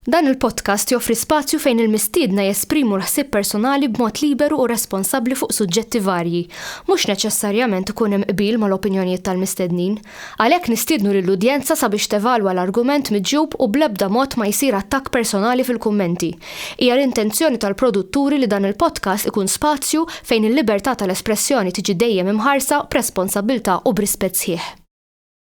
Dan il-podcast joffri spazju fejn il-mistiedna jesprimu l-ħsieb personali b'mod liberu u responsabbli fuq suġġetti varji. Mhux neċessarjament ikun hemm qbil mal-opinjonijiet tal-mistednin. Għalhekk nistiednu lill-udjenza sabiex tevalwa l-argument miġjub u bl-ebda mod ma jsir attakk personali fil-kummenti. Hija l-intenzjoni tal-produtturi li dan il-podcast ikun spazju fejn il-libertà tal-espressjoni tiġi dejjem imħarsa b'responsabbiltà u b'rispett sħiħ.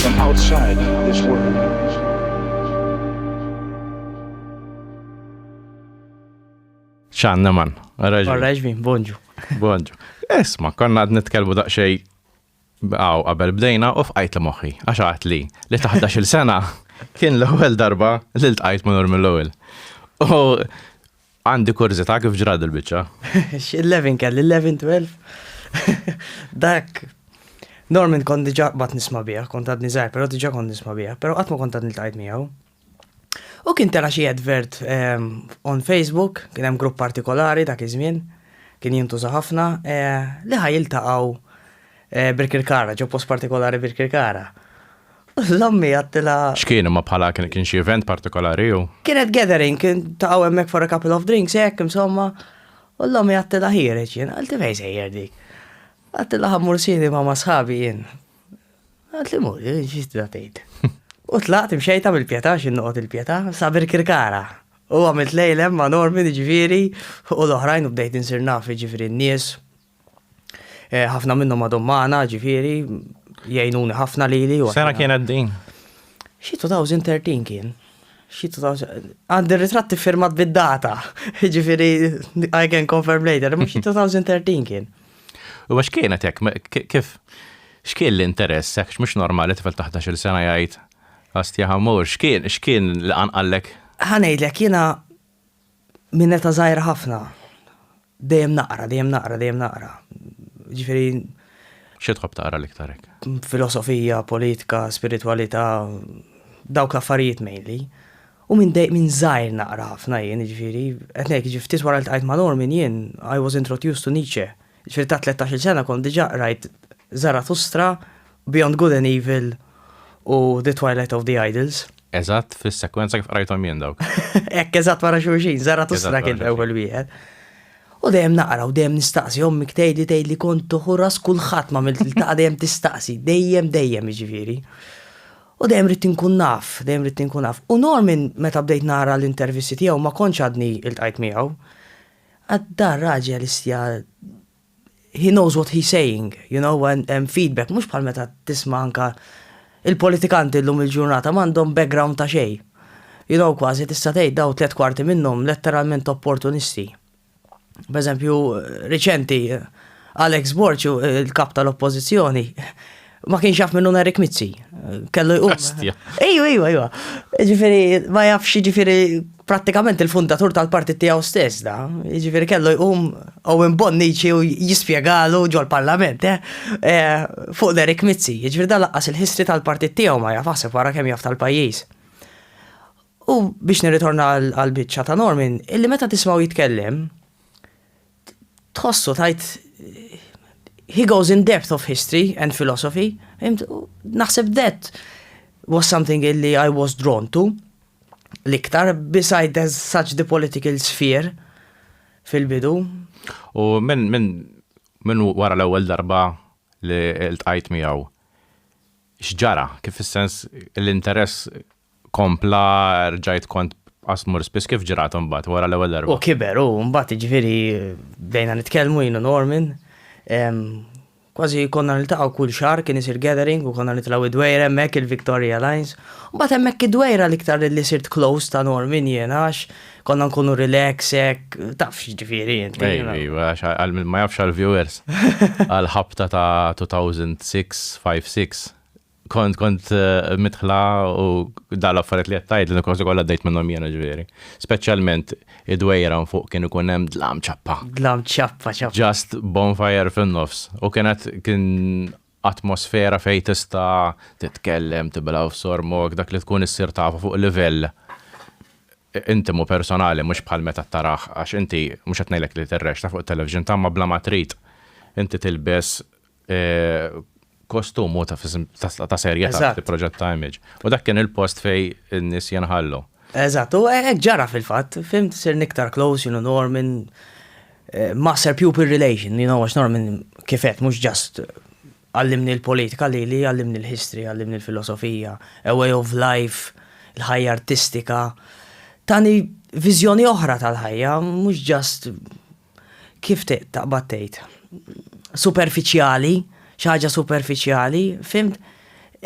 from outside this world. ċanna man. Għarraġvi, bonġu. Bonġu. Esma, konna għad nitkelbu daqxej għaw qabel bdejna u fqajt li moħi, għaxħat li li taħda xil sena kien l-ewel darba li l-tqajt ma normi l-ewel. U Għandi kurżità kif ġrat il-biċċa? X'il-levin kelli, il-levin 12. Dak Norman kont diġà bat nisma' biha, kont għadni żgħar, però diġà kont nisma' biha, però qatt ma kont għad niltqajt miegħu. U kien tela xi advert ehm, on Facebook, kien hemm grupp partikolari dak iż-żmien, kien jintuża ħafna, eh, li ħaj jiltaqgħu eh, Birkirkara, ġo post partikolari Birkirkara. L-ommi għattila. X'kien imma bħala kien xi event partikolari u? Kienet gathering, kien taqgħu hemmhekk for a couple of drinks hekk insomma. U l-ommi għattila ħiereġ jien, għalti fejn sejjer dik. Għattila ħammur sini ma' masħabi jien. Għalti mur, ġiġda tgħid. U tlaqt imxejta mill-pjeta x'in noqgħod il-pjeta, sabir kirkara. U għamilt lejlem ma' Norman ġifieri u l-oħrajn u bdejt insir naf ġifieri n-nies. Eh, ħafna minnhom għadhom magħna, ġifieri, jgħinuni ħafna lili. Sena kienet din? Xi 2013 kien. Xi 2000. Għandi ritratti firmat bid-data. Ġifieri, I can confirm later, mhux xi 2013 kien. U għax kienet hekk, kif? X'kien l-interess, hekk mhux normali tifel taħt il sena jgħid għastja ħamur, x'kien, x'kien li qanqallek? Ħanejdlek jiena Minn età żgħira ħafna dejjem naqra, dejjem naqra, dejjem naqra. Ġifieri. Xi tħobb taqra l-iktar hekk? Filosofija, politika, spiritwalità, dawk l-affarijiet mainly. U minn dej minn żgħir naqra ħafna jien, ġifieri, qed ngħid jiġifieri ftit wara li ltqajt ma' Norman jien I was introduced to Nietzsche Ġifieri ta' tlettax-il sena kont diġà qrajt Zarathustra, Beyond Good and Evil u The Twilight of the Idols. Eżatt fis-sekwenza kif qrajthom jien dawk. Hekk eżatt wara xulxin, Zarathustra kien l-ewwel wieħed. U dejjem naqra u dejjem nistaqsi, ommi tgħidli tgħidli kont toħu ras kulħadd m'għamilt iltaqa' dejjem tistaqsi, dejjem dejjem jiġifieri. U dejjem ridt inkun naf, dejjem ridt inkun naf. U Norman meta bdejt nara l-intervisti tiegħu ma kontx għadni iltqajt miegħu. Għad da raġel issja he knows what he's saying, you know, and hemm feedback, mhux bħal meta tisma' anka il-politikanti llum il-ġurnata m'għandhom background ta' xejn. You know, kważi tista' tgħid dawn tliet kwarti minnhom letteralment opportunisti. B'eżempju riċenti Alex Borg, il-Kap tal-Oppożizzjoni, ma kienx jaf minnu Eric Mizzi. Kellu jqum. Ejju, ejju, ejju. Ġifiri, ma jafx ġifiri pratikament il-fundatur tal-partit tiegħu stess da. Ġifiri kellu jqum Owen Bonnici u jispjegalu ġol-parlament, eh? eh? Fuq Eric Mizzi. Ġifiri da laqqas il-history tal-partit tiegħu ma jaf għasib wara kemm jaf tal-pajjiż. U biex nirritorna għal-bicċa ta' Norman, illi meta tismaw jitkellem, tħossu tajt he goes in depth of history and philosophy. Naħseb that was something illi I was drawn to l-iktar beside there's such the political sphere fil-bidu. U minn min, min wara l-ewwel darba li l-tqajt miegħu x'ġara kif is-sens l-interess kompla rġajt kont qas mur spiss kif ġrat imbagħad wara l-ewwel darba? U kiber hu mbagħad jiġifieri bdejna nitkellmu jien u Norman. Kważi konna niltaqgħu kull xahar kien isir gathering u konna nitlgħu d-dwejjra hemmhekk il-Victoria Lines. Mbagħad hemmhekk id-dwejra l-iktar li sirt close ta' Norman jiena għax konna nkunu relax hekk taf x'jiġifieri int. Ejja ejja għax għal min ma jafx għall-viewers għall-ħabta ta' 2006, 5, 6 Kont kont mitħla u dal affarijiet li qed tgħid li kważi kollha dejt minnhom jiena ġifieri. Speċjalment id-dwejra fuq kien ikun hemm dlam ċappa. Dlam ċappa ċappa. Just bonfire fin-nofs. U kienet kien atmosfera fejn tista' titkellem, tibla' u sormok dak li tkun issir tafu fuq livell intimu personali mhux bħal meta taraħ għax inti mhux qed ngħidlek li tirrexxa fuq it-television tagħmma bla ma trid. Inti tilbes kostum u ta' serjetà fi proġett ta' image. U dak kien il-post fej n-nies jenħallu. Eżatt, u hekk ġara fil-fatt, fim sir niktar close, you know, Norman, eh, master pupil relation, you know, għax Norman kifet mhux ġast għallimni l-politika li li għallimni l-history, għallimni l-filosofija, a way of life, l-ħajja artistika. Tani viżjoni oħra tal-ħajja, mhux ġast kif taqbad tgħid, superfiċjali, xi ħaġa superfiċjali, fimt?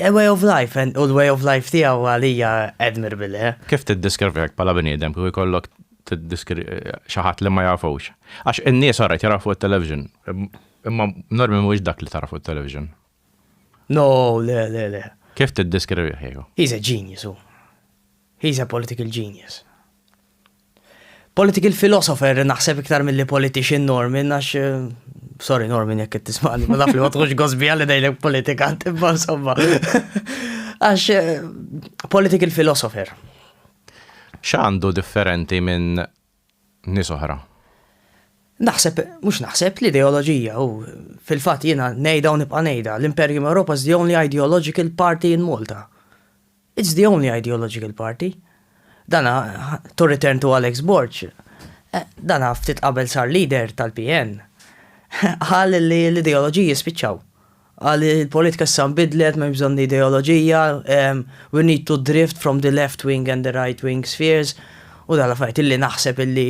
A way of life, and u l-way of life tiegħu għalija admirable. Eh? Kif tiddeskrivi hekk bħala bniedem kif ikollok tiddiskri xi ħadd li ma jafux? Għax in-nies orajt jarafu t-television, imma normi mhuwiex dak li tarafu t-television. No, le, le, le. Kif tiddeskrivih kieku? He's a genius hu. He's a political genius. Political philosopher naħseb iktar mill-li politician Norman, għax eh, sorry Norman jekk tismaqni, ma naf li ma tħux gosbi għalli dejlek politikant, imma insomma. Għax eh, political philosopher. X'għandu differenti minn nies oħra. Naħseb, mhux naħseb, l-ideoloġija u fil-fatt jiena ngħidha u nibqa' ngħidha, l-Imperium Europa is the only ideological party in Malta. It's the only ideological party. Dana, to return to Alex Borg, eh, dana ftit qabel sar leader tal-PN, għal li l-ideoloġiji spiċċaw. Qal li l-politika issa nbidlet, m'hemmx bżonn l-ideoloġija, we need to drift from the left wing and the right wing spheres, u dan l-affarijiet illi naħseb illi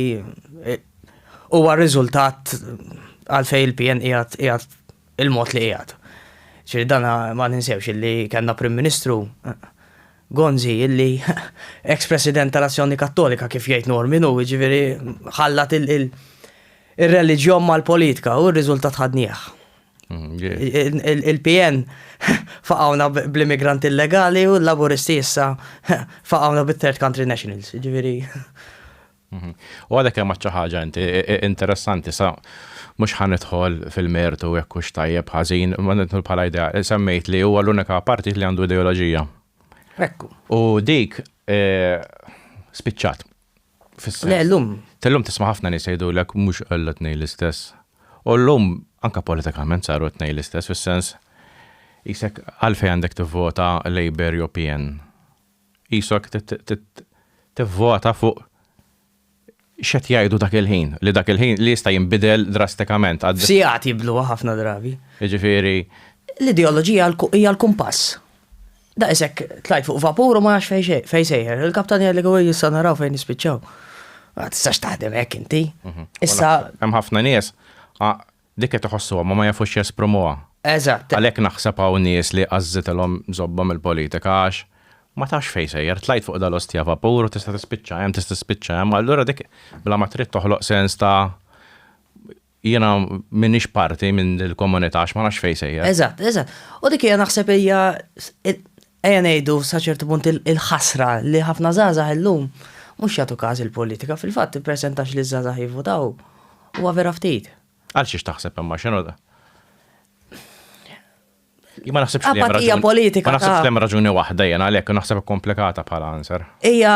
huwa r-riżultat għalfejn il-PN qiegħed il-mod li qiegħed. Ġifieri dan ma ninsewx illi kellna Prim Ministru Gonzi illi ex-President tal-Azzjoni Kattolika kif jgħid Normin hu, ġifieri ħallat ir-reliġjon mal-politika u r-riżultat ħadnieh. Mm, Il-PN faqawna bl-immigranti illegali u l-laburisti issa faqawna bit-third country nationals, ġiviri. Mhm. U għadek hemm xi ħaġa inti interessanti sa mhux ħanidħol fil-mertu jekk hux tajjeb ħażin, ma nidħol bħala idea, semmejt li huwa l-unika partit li għandu ideoloġija. Ekku. U dik eh, spiċċat. Le, l-lum. Tal-lum tisma ħafna nis jgħidu l mux għallu t-nej l-istess. U l-lum, anka politikament saru t-nej l-istess, fil-sens, jisek għalfej għandek t-vota Labour jew PN. Jisok t-vota fuq xet jgħidu dak il-ħin, li dak il-ħin li jista' jinbidel drastikament. Sijat jiblu ħafna drabi. Ġifiri. L-ideologija hija l-kumpass. Daqshekk tlajt fuq vapur u ma nafx fejn sejjer. Il-kaptan jgħidli għu jissa naraw fejn nispiċċaw. Ma tistax taħdem hekk inti. Mhm. Issa. Hemm ħafna nies dik qed iħossuha ma ma jafux jesprimuha. Eżatt. Għalhekk naħseb hawn nies li għażżitilhom żobbhom il-politika għax ma tafx fejn sejjer, tlajt fuq dal-ostja vapur u tista' tispiċċa hemm, tista' tispiċċa hemm, allura dik bla ma trid toħloq sens ta' Jiena m'iniex parti minn il-komunità għax ma nafx fejn sejjer. Eżatt, eżatt. U dik hija naħseb hija ejja ngħidu sa ċertu punt il-ħasra li ħafna żgħażagħ illum mhux jagħtu każ il-politika. Fil-fatt ippreżentax li ż-żgħażagħ jivvutaw huwa vera ftit. Għal xiex taħseb imma x'inhu da? Ma naħsibx li hemm raġuni. politika. Ma naħsibx li hemm raġuni waħda jena għalhekk naħseb komplikata bħala answer. Hija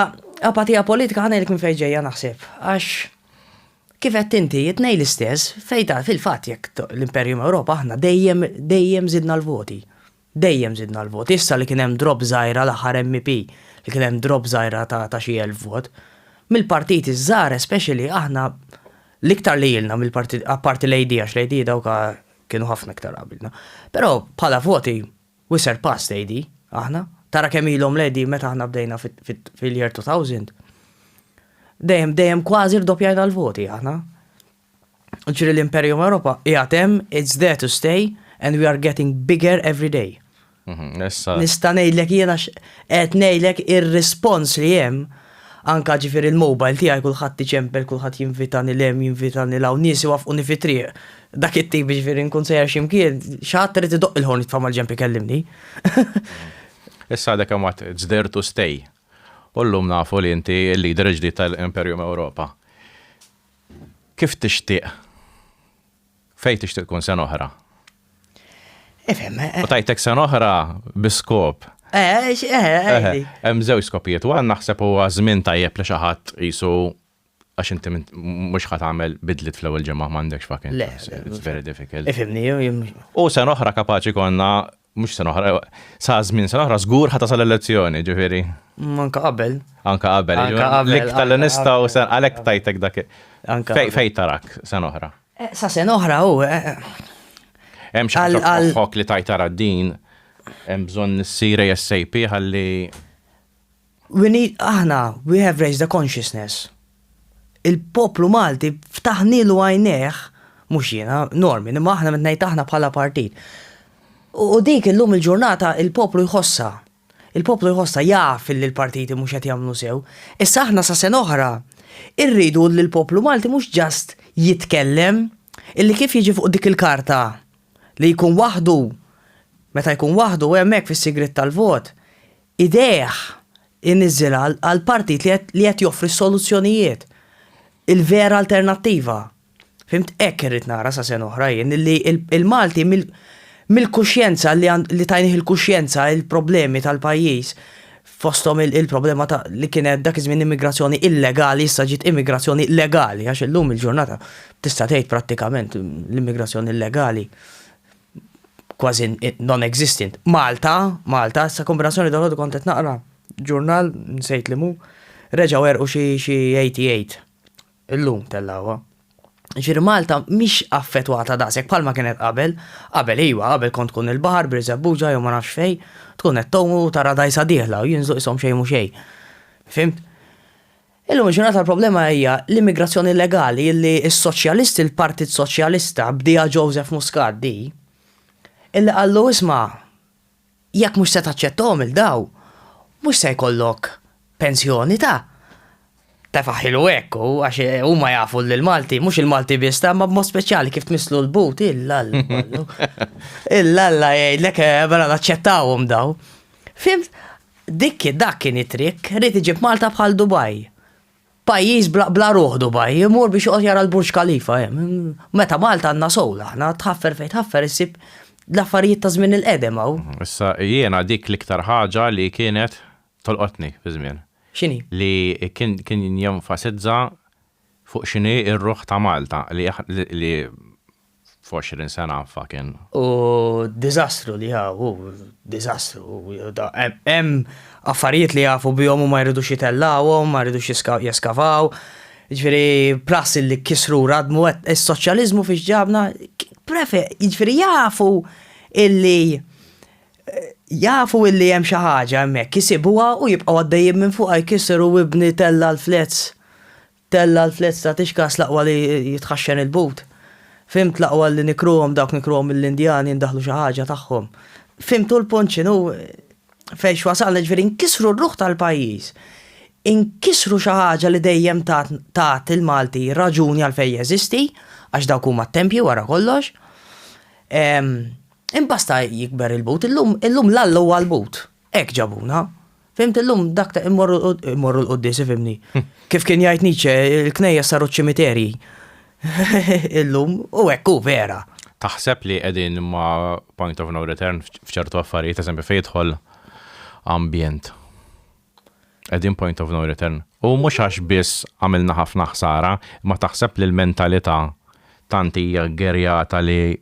apatija politika ħana jekk fejn ġejja naħseb. Għax kif qed inti jitnej l-istess fejta fil-fatt jekk l-Imperium Ewropa aħna dejjem dejjem zidna l-voti. Dejjem zidna l-voti. Issa li kien hemm drop żgħira l-aħħar MP li kien hemm drop żgħira ta' xi elf vot. Mill-partiti żgħar especially aħna l-iktar li jilna mill-partit apparti l-AD għax l-AD dawka kienu ħafna iktar qabilna. Però bħala voti, we surpassed AD, aħna. Tara kemm ilhom l-AD meta aħna bdejna fil-year 2000. Dejjem, dejjem kważi rdoppjajna l-voti aħna. Ġri l-Imperium Europa, jgħatem, it's there to stay, and we are getting bigger every day. Mhm, Nista' ngħidlek jiena qed ngħidlek ir-rispons li hemm anka ġifieri l-mobile tiegħi kulħadd iċempel, kulħadd jinvitani lem, jinvitani law, nies iwaffquni fi triq. Dak it-tip ġifieri nkun sejjer x'imkien, x'ħadd irid idoqq il-ħorn jitfa' mal-ġenb ikellimni. Issa għadek hemm għad it's there to stay. U llum nafu li inti l-leader ġdid tal-Imperium Ewropa. Kif tixtieq Fejn tixtieq tkun sena oħra? Ifhem. Eh, eh. U tajtek sena oħra biskop. Eh, hemm żewġ skopijiet, u għan naħseb huwa żmien tajjeb li xi ħadd qisu għax inti mhux ħadd għamel bidlit fl-ewwel ġimgħa m'għandekx fucking. It's very difficult. Ifhimni U sena oħra kapaċi konna Mhux sena oħra, sa żmien sena oħra żgur ħa tasal elezzjoni, ġifieri. Mm, anka qabel. Anka qabel. Anka qabel. L-iktar li nistgħu sen għalhekk tajtek dak. Fej fej tarak sena oħra. Eh, sa sena oħra hu. Eh, eh. Hemm xi ħaġa li tajtara din hemm bżonn issir ASAP ħalli We need, aħna, we have raised the consciousness. Il-poplu Malti ftaħnielu għajnejh, mhux jiena, Norman, imma aħna meta ngħid aħna bħala partit. U dik illum il-ġurnata il-poplu jħossha. Il-poplu jħossha jaf li l-partiti mhux qed jagħmlu sew. Issa aħna sa sena oħra irridu li l-poplu Malti mhux ġast jitkellem illi kif jiġi fuq dik il-karta li jkun waħdu meta jkun waħdu hemmhekk fis-sigriet tal-vot idejh iniżżilha għal partit li qed li qed joffri s-soluzzjonijiet, il-vera alternattiva. Fhimt? Hekk irrid nara sa sena oħra jien illi l-Malti mill mill-kuxjenza li għand li tajnih il-kuxjenza il-problemi tal-pajjiż fosthom il-problema ta' li kienet dak iż-żmien immigrazzjoni illegali issa ġiet immigrazzjoni legali għax illum il-ġurnata tista' tgħid prattikament l-immigrazzjoni illegali kważi non-existent. Malta, Malta, sa kombinazzjoni dal-ħodu kont qed naqra ġurnal, nsejt li mu, reġgħu erqu xi 88. Illum tellawha. Ġiri Malta mhix affettwata daqshekk bħalma kienet qabel, qabel iwa, qabel kont tkun il-baħar b'Riżebbuġa jew ma nafx fejn, tkun qed tgħum u tara dajsa dieħla u jinżlu qishom xejn mhu xejn. Fimt? Illum il-ġurnata l-problema hija l-immigrazzjoni illegali illi s-Soċjalisti, il-Partit Soċjalista, bdieha Joseph Muscat di, illi qallu isma' jekk mhux se taċċettahom 'il daw, mhux se jkollok pensjoni ta' tefa' ħilu hekk hu għax huma jafu illi l-Malti, mhux il-Malti biss ta' imma b'mod speċjali kif tmisslu l-but, illalla kollu. Illalla jgħidlek mela naċċettawhom daw. Fimt? Dik kien dak kien it-trikk, ried iġib Malta bħal Dubai. Pajjiż bla bla ruħ Dubai, imur biex joqgħod jara l-Burj Khalifa hemm. Meta Malta għandna soul aħna, tħaffer fejn tħaffer issib l-affarijiet ta' żmien il-qedem hawn. Issa jiena dik l-iktar ħaġa li kienet tolqotni fi żmien. X'inhi? Li kien jenfasizza fuq x'inhi r-ruħ ta' Malta li li f'għoxrin sena fucking. U d-diżastru li hawn hu diżastru. Hemm affarijiet li jafu bihom u ma jridux jitellgħuhom, ma jridux jeskavaw. Jiġifieri plus illi kisru u radmu is-soċjaliżmu fiex ġabna, jiġifieri jafu illi Jafu illi hemm xi ħaġa hemmhekk, isibuha u jibqgħu għaddejjin minn fuqha jkisser u ibni tella' l-flezz, tella' l-flezz ta' tixkas l-aqwa li jitħaxxen il-but. Fhimt l-aqwa li nikruhom dawk nikruhom mill-Indjani ndaħħlu xi ħaġa tagħhom. Fhimtu l-punt x'inhu fejn x'wasalna jiġifieri nkissru r-ruħ tal-pajjiż. Inkissru xi ħaġa li dejjem tat tat il-Malti raġuni għalfejn jeżisti, għax dawk huma t-tempji wara kollox. Imbass ta' jikber il-but, illum, illum l-Alla huwa l-but. Hekk ġabuna. Fimt illum dak ta' immorru immorru l-quddiesi fimni. Kif kien jgħid Nietzsche, il-knejjes saru ċ-ċimiterji. Illum u hekk hu vera. Taħseb li qegħdin ma' point of no return f'ċertu affarijiet, eżempju fejn jidħol ambjent? Qegħdin point of no return. U mhux għax biss għamilna ħafna ħsara, imma taħseb li l-mentalità tant hija gerjata li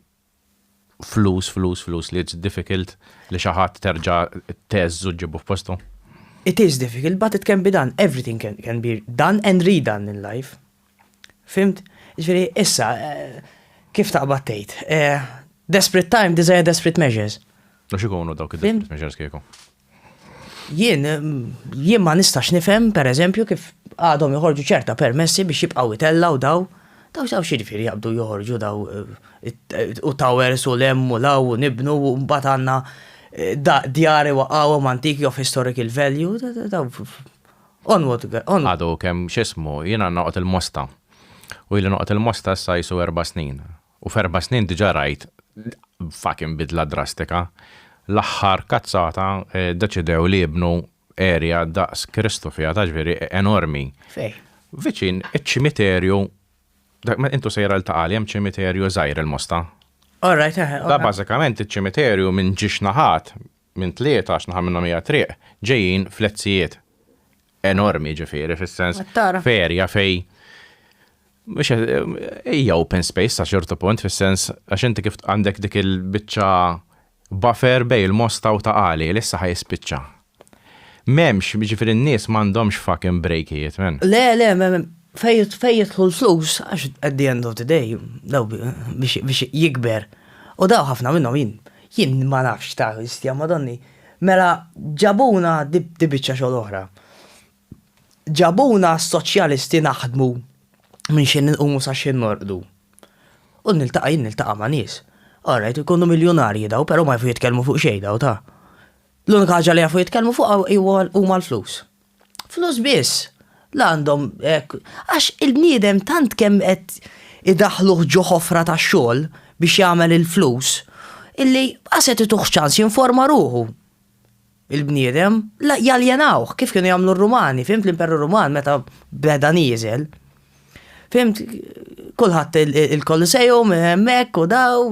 Flus, flus, flus li it's difficult li xi ħadd terġa' tgħeżżu ġġibu f'postu? It is difficult but it can be done. Everything can, can be done and redone in life. Fimt? Ġifieri issa eh, kif taqbad tgħid? Eh, desperate time desire desperate measures. Mhux ikunu dawk id-desperate measures kieku. Jien jien ma nistax nifhem, pereżempju, kif għadhom joħorġu ċerta permessi biex jibqgħu jtellgħu daw, daw daw x'jiġifieri jaqbdu joħorġu daw u towers u 'l hemm u 'l hawn u nibnu u mbagħad għandna djar iwaqqgħuhom antiki of historical value, daw onward onward. Għadu kemm x'ismu, jiena noqgħod il-Mosta u ili noqgħod il-Mosta issa qisu erba' snin U f'erba' snin diġà rajt fucking bidla drastika. L-aħħar kazzata ddeċidew li jibnu area daqs Kristu fiha, taf x'veri, enormi. Fejn? Viċin iċ-ċimiterju, int u sejra 'l Ta' Qali hemm ċimiterju żgħir il-Mosta. All right, eħe. Bażikament iċ-ċimiterju minn ġiex naħat minn tlieta għax naħa minnhom hija triq, ġejjin flezzijiet enormi ġifieri fis-sens ferja fej Mux hija open space sa xortu punt fis-sens għax inti kif għandek dik il-biċċa buffer bej il-mosta u ta' għali li issa ħajspiċċa. M'hemmx, ġifieri n-nies m'għandhomx fucking brejkijiet men. Le, le, fej jidħlu l-flus għax at the end of the day daw biex jikber. U daw ħafna minnhom jien Jien ma nafx ta' histja madonni. Mela ġabuna di biċċa xogħol oħra. Ġabuna s-soċjalisti naħdmu minn xi nqumu sa xi norqdu. U niltaqa' jien niltaqa' ma' nies. Orajt ikunu miljunarji daw però ma jafu jitkellmu fuq xejn daw ta. L-unika ħaġa li jafu jitkellmu fuqha huma l-flus. Flus biss. La għandhom hekk. Għax il-bniedem tant kemm qed idaħħluh ġo ħofra ta' xogħol biex jagħmel il-flus illi qas qed ituh ċans jinforma ruħu il-bniedem, la jaljenawh kif kienu jagħmlu r-Rumani, fimt l-Imperu Ruman meta beda nieżel. Fimt kulħadd il-Koliseum hemmhekk u daw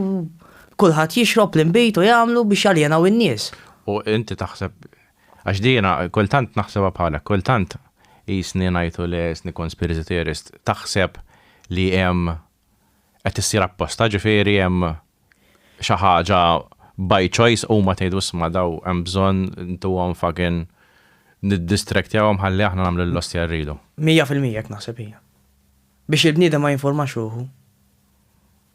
kulħadd jixrob l-inbit u jagħmlu biex jaljenaw in-nies. U inti taħseb Għax dina kultant naħsebha bħalek, kultant qisni ngħidu li qisni conspiracy theorist, taħseb li hemm qed issir apposta, ġifieri hemm xi ħaġa by choice huma tgħidu isma' daw hemm bżonn intuhom fucking niddistraktjahom ħalli aħna nagħmlu l-ostja rridu. Mija fil-mija hekk naħseb hija. Biex il-bniedem ma jinformax ruħu.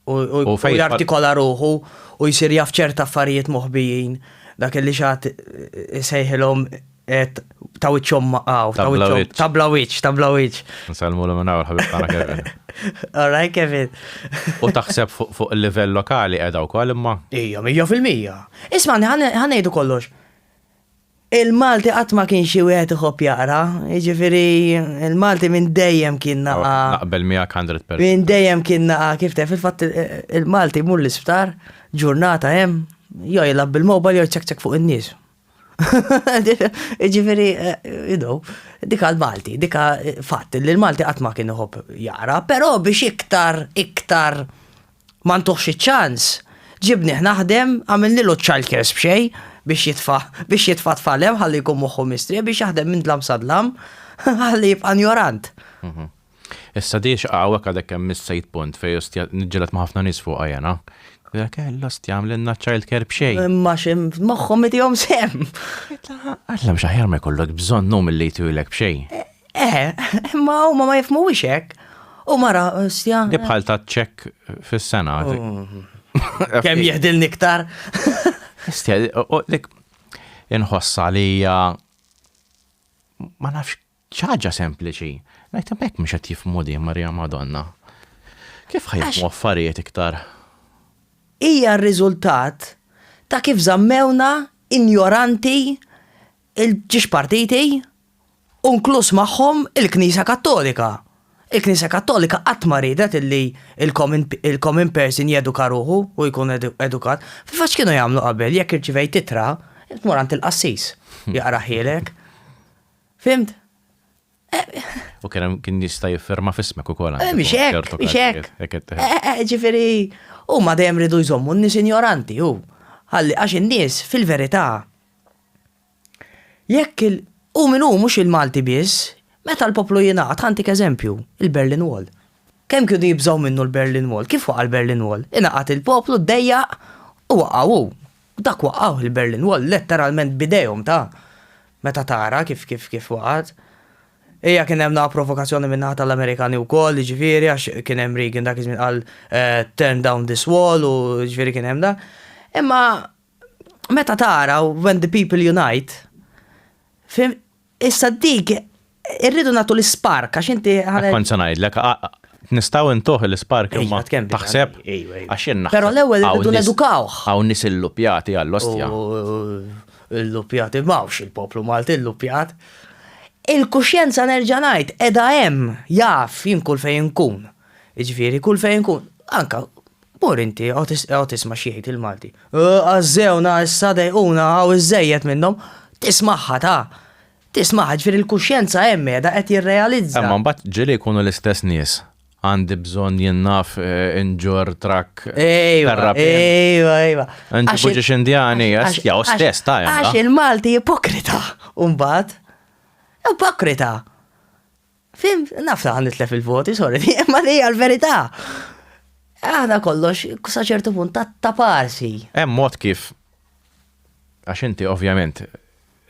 u fejn jartikola ruħu u jsir jaf ċerta affarijiet moħbijin dak li xat sejħilhom et ta' wiċċhom maqaw, ta' wiċċhom, ta' bla wiċċ, ta' bla wiċċ. Nsalmu l minnaw l-ħabib tagħna Kevin. Alright Kevin. U taħseb fuq il-livell lokali qiegħda wkoll imma? Ija, mija fil-mija. Isma' ħanejdu kollox. Il-Malti qatt ma kien xi wieħed iħobb jaqra, jiġifieri il-Malti minn dejjem kien naqa'. Naqbel miegħek 100%. Minn dejjem kien naqa' kif tef il-fatt il-Malti mur l-isptar, ġurnata hemm, jew jilgħab bil-mobile jew jċekċek fuq in-nies. Jiġifieri, you know, dika l-Malti, dika fatt li l-Malti qatt ma kien iħobb jaqra, però biex iktar, iktar Ma ntuhx iċ-ċans, ġibnih naħdem, għamilnilu ċ-childcares b'xejn biex jitfa' biex jitfa' t-tfal hemm ħalli jkun moħħu mistrieħ biex jaħdem minn dlam sa dlam ħalli jibqa' njorant. Issa di x'qa' hawnhekk għadek kemm missejt punt fejn ostja niġġieled ma' ħafna nies fuqha jiena. Għidlek eh l-ostja għamlilna ċ-childcare b'xejn. Imma xi moħħhom itihom sehem. Għidlek Alla mhux aħjar ma jkollok bżonn hu milli jtuhilek b'xejn. Eh, ma huma ma jifmuwix hekk. U mara, stja. Di bħal ta' ċek fis-sena. Mm. Kemm jihdil niktar? Stja, dik inħossa li hija ma nafx ċaġa sempliċi. Najt mek mhux qed jifmu di Marija Madonna. Kif ħajmu affarijiet iktar? Hija r-riżultat ta' kif zammewna injoranti il-ġiex partiti u nkluż magħhom il-Knisja Kattolika. Il-Knisja Kattolika qatt ma riedet illi il-common person jeduka ruħu u jkun edukat. Fil-fatt x'kienu jagħmlu qabel jekk irċivejt ittra, tmur għand il-qassis jaqrahielek. Fhimt? U kien hemm kien jista' jiffirma f'ismek ukoll. Eh, mhix hekk, mhix hekk. Eh, eh, ġifieri, huma dejjem ridu jżommu n-nies injoranti hu. Ħalli għax in-nies fil-verità Jekk il. Hu min hu, mhux il-Malti biss. Meta l-poplu jingħaqad, ħa ntik eżempju, il-Berlin Wall. Kemm kienu jibżgħu minnu l-Berlin Wall? Kif waqa' l-Berlin Wall? Ingħaqad il-poplu, ddejjaq, u waqa' hu. Dak waqqgħuh il-Berlin Wall, letteralment b'idejhom ta'. Meta tara kif kif kif waqgħet. Hija kien hemm naħa provokazzjoni min-naħa tal-Amerikani wkoll, jiġifieri għax kien hemm Reagan dak iż-żmien qal turn down this wall u jiġifieri kien hemm dan. Imma meta tara when the people unite, fim, issa dik irridu natu l-spark, għax inti ħana. Kont sanajdlek, nistaw intuħ l-spark imma taħseb, għax jenna. Pero l-ewel irridu nedukaw. Għaw nis il-lupjati għall-ostja. Il-lupjati mawx il-poplu Malti, il-lupjat. Il-kuxjenza nerġanajt, edha hemm, jaf jien kull fejn kun. Iġviri, kull fejn kun, anka Mur inti, eqgħod isma' x'jgħid il-Malti. Għażżewna issa dejquna hawn iżżejjed minnhom. Tismagħha ta! Tismagħha, ġifieri l-kuxjenza hemm qiegħda qed jirrealizza. Imma mbagħad ġieli jkunu l-istess nies. Għandi bżonn jien naf inġorr trakk terrapien. Ejwa, ejwa, ejwa. Inġibu ġiex Indjani, ja hu stess ta' jalla. Għax il-Malti ipokrita mbagħad. Ipokrita. Fim, naf ta' nitlef il-voti, sorry, imma li hija l-verità. Aħna kollox, sa ċertu punt ta' parsi. Hemm mod kif għax inti ovvjament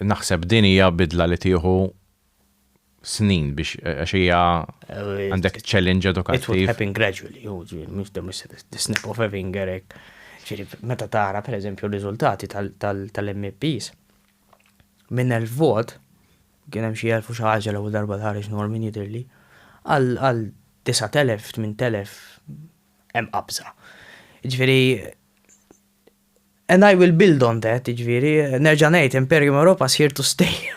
naħseb din hija bidla li tieħu snin biex għax hija għandek challenge edukattiv. It will happen gradually, u ġi, mhux dem the snap of a finger hekk. Ġiri, meta tara pereżempju r-riżultati tal-MPs minn elf vot, Kien hemm xi elf u xi ħaġa l-ewwel darba li ħareġ Norman jidhirli. Għal għal disgħat elef, tmint elef hemm qabża. Jiġifieri and I will build on that, jiġifieri nerġa' ngħid Imperium Europa is here to stay.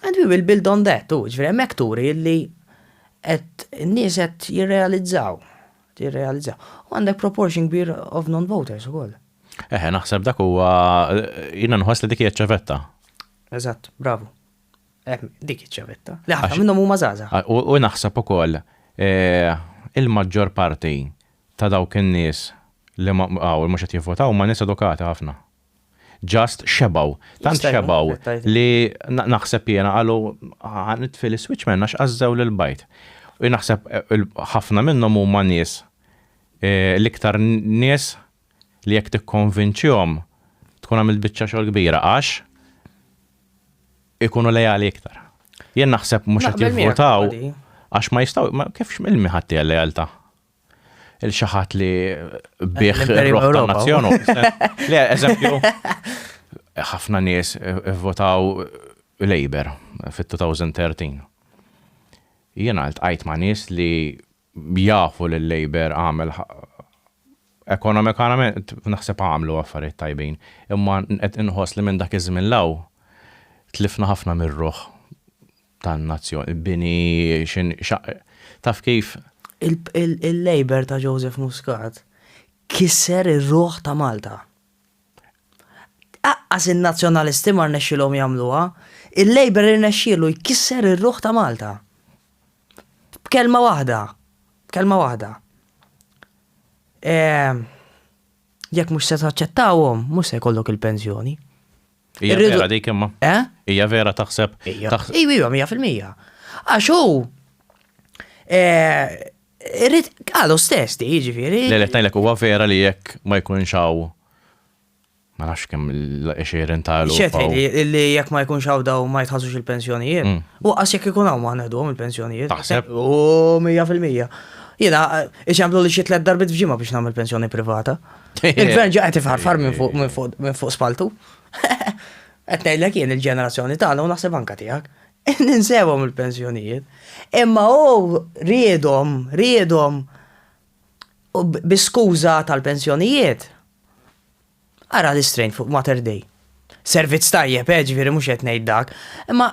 And we will build on that, u jiġifieri hemmhekk turi li qed in-nies qed jirrealizzaw, jirrealizzaw. U għandek proportion kbir of non-voters ukoll. Eħe, naħseb dak huwa jiena nħoss li dik hija ċ-ċavetta. Eżatt, bravu. Hemm dik iċ-ċavetta. Li ħafna minnhom huma żgħażagħ. U naħseb ukoll il-maġġor parti ta' dawk in-nies li hawn mhux qed jivvotaw huma nies edukati ħafna. Just xebgħu. Tant xebgħu li naħseb jiena qalu ħa nitfi l-iswiċċ minn għax għażżew lil bajt. U naħseb ħafna minnhom huma nies l-iktar nies li jekk tikkonvinċihom tkun għamilt biċċa xogħol kbira għax ikunu leali iktar. Jien naħseb mhux qed jivvotaw għax ma jistgħu ma kif x'milmi ħadd hija lealtà. Il xi ħadd li bih ir-roħ tan-nazzjon. Le, eżempju, ħafna nies votaw Labour fit-2013. Jien għalt għajt ma' nies li Jafu li l-Labour għamel ekonomikament naħseb għamlu affarijiet tajbin, imma qed inħoss li minn dak iż-żmien 'l hawn tlifna ħafna mir-ruħ tan-nazzjon, il-bini taf kif? Il-Labour ta' Joseph Muscat kisser ir-ruħ ta' Malta. Aqqas in-Nazzjonalisti ma rnexxielhom jagħmluha, il-Labour irnexxielu jkisser ir-ruħ ta' Malta. B'kelma waħda, b'kelma waħda. Ehm, jekk mhux se taċċettawhom, mhux se jkollok il-pensjoni. Hija vera dik imma. Eh? Hija vera taħseb. Ija, ija, mija fil-mija. Għax hu eh, irrid għalu stess di, jiġifieri. Le, le, huwa vera li jekk ma jkunx hawn Ma nafx kemm l-20 ta' l Xetħi li jekk ma jkunx hawn daw ma jitħasux il-pensjonijiet. Mm. U qas jekk ikun hawn ma ngħedhom il-pensjonijiet. Taħseb? U 100%. Jiena iċemplu li xi tliet darbit f'ġimgħa biex nagħmel pensjoni privata. Il-gvern ġa qed ifħarfar minn fuq spaltu. Qed ngħidlek jien il-ġenerazzjoni tagħna u naħseb anka tiegħek. Ninsewhom il-pensjonijiet. Imma hu riedhom, riedhom U bi skuża tal-pensjonijiet, ara l-istrejn fuq Mater Dei. Servizz tajjeb, eh, ġifieri mhux qed ngħid dak, imma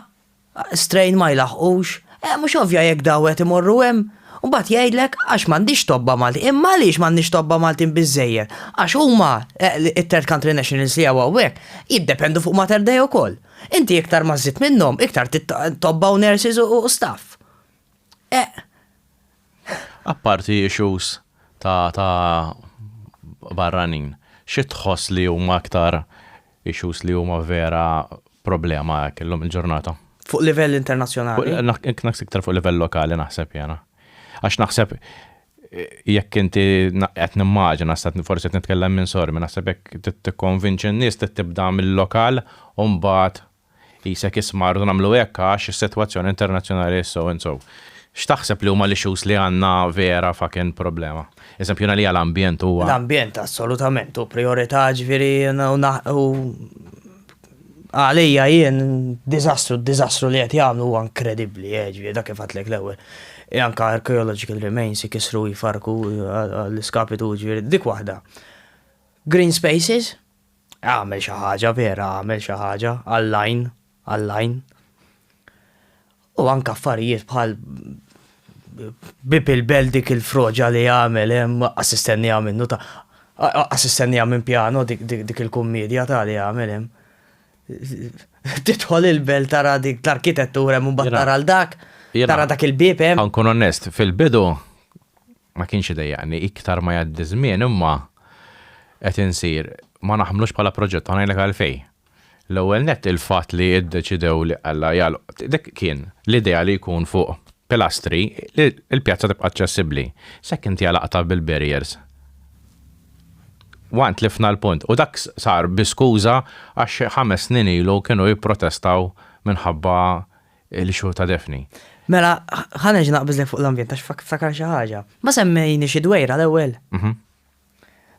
strejn ma jlaħħqux. Eh, mhux ovvja jekk daw qed imorru hemm. U mbagħad jgħidlek għax m'għandix tobba Maltin. Imma għaliex m'għandniex tobba Maltin biżżejjed? Għax huma, it-third country nationals li hawn hawnhekk, jiddependu fuq Mater Dei wkoll. Inti iktar ma żżid minnhom, iktar tittoqgħod tobba u nurses u staff. Eqq. Apparti issues ta' ta' barranin, xi tħoss li huma aktar issues li huma vera problema hekk illum il-ġurnata? Fuq livell internazzjonali? Naqs iktar fuq livell lokali naħseb jiena. Għax naħseb jekk inti qed nimmaġina, forsi qed nitkellem minn sormi, naħseb jekk tikkonvinċi n-nies trid tibda mill-lokal u mbagħad Qisek isma' rridu nagħmlu hekk għax is-sitwazzjoni internazzjonali hi so and so. X'taħseb li huma l-issues li għandna vera fucking problema? Eżempju, jiena għalija l-ambjent huwa. L-ambjent assolutament hu prijorità ġifieri u għalija jien diżastru, d-diżastru li qed jagħmlu huwa inkredibbli, eh, ġifieri dak kif għadtlek l-ewwel. E anka archaeological remains ikisru jfarku eh, l-iskapitu ġifieri dik waħda. Green spaces, Agħmel xi ħaġa, vera agħmel xi ħaġa, għall-għajn, għall-għajn. U anke affarijiet bħal bib il-bel dik il-froġa li għamel, eh, assistenni minnu ta' assistenni minn pjano dik il-kummedja ta' li għamel hemm. Titħol il-bel tara dik l-arkitettura minn bat tara l-dak, tara dak il-bib hemm. Ankun onest, fil-bidu ma kienx idejjaqni iktar ma jgħaddi ż-żmien imma qed insir ma naħmlux bħala proġett u ngħidlek għalfejn. L-ewwel nett il-fatt li ddeċidew li alla jagħlqu dik kien l-idea li jkun fuq pilastri li l-pjazza tibqa' aċċessibbli. S'hekk inti għalaqtha bil-barriers. One tlifna l-punt u dak sar bi skuża għax ħames snin ilu kienu jipprotestaw minħabba il-xhur ta' Daphne. Mela, ħa nerġa' naqbiżlek fuq l-ambjent għax ftakar xi ħaġa. Ma semmejni xi dwejra l-ewwel? Mhm.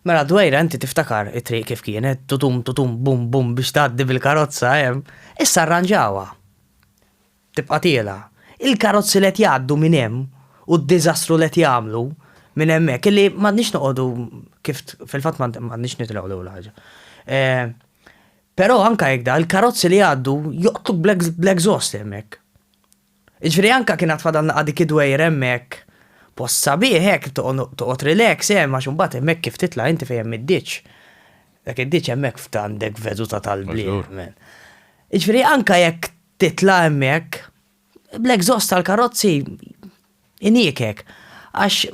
Mela d-dwejra inti tiftakar it-triq kif kienet, tutum tutum bum bum biex tgħaddi bil-karozza hemm, issa rranġawha. Tibqa' tiela'. Il-karozzi li qed jgħaddu minn hemm u d-diżastru li qed jagħmlu minn hemmhekk illi m'għandniex noqogħdu kif fil-fatt m'għandniex nitilgħu l-ewwel ħaġa. Però anke jekk da, il-karozzi li jgħaddu joqtluk bl-exhaust hemmhekk. Jiġifieri anke kien għad fadalna qa' dik id-dwejjra hemmhekk, post sabiħ hekk toqgħod relax hemm għax imbagħad hemmhekk kif titla' inti fejn hemm id-ditx. Dak id-ditx hemmhekk f'għandek veduta tal-bliet. Jiġifieri anke jekk titla' hemmhekk, bl-exhaust tal-karozzi iniekek għax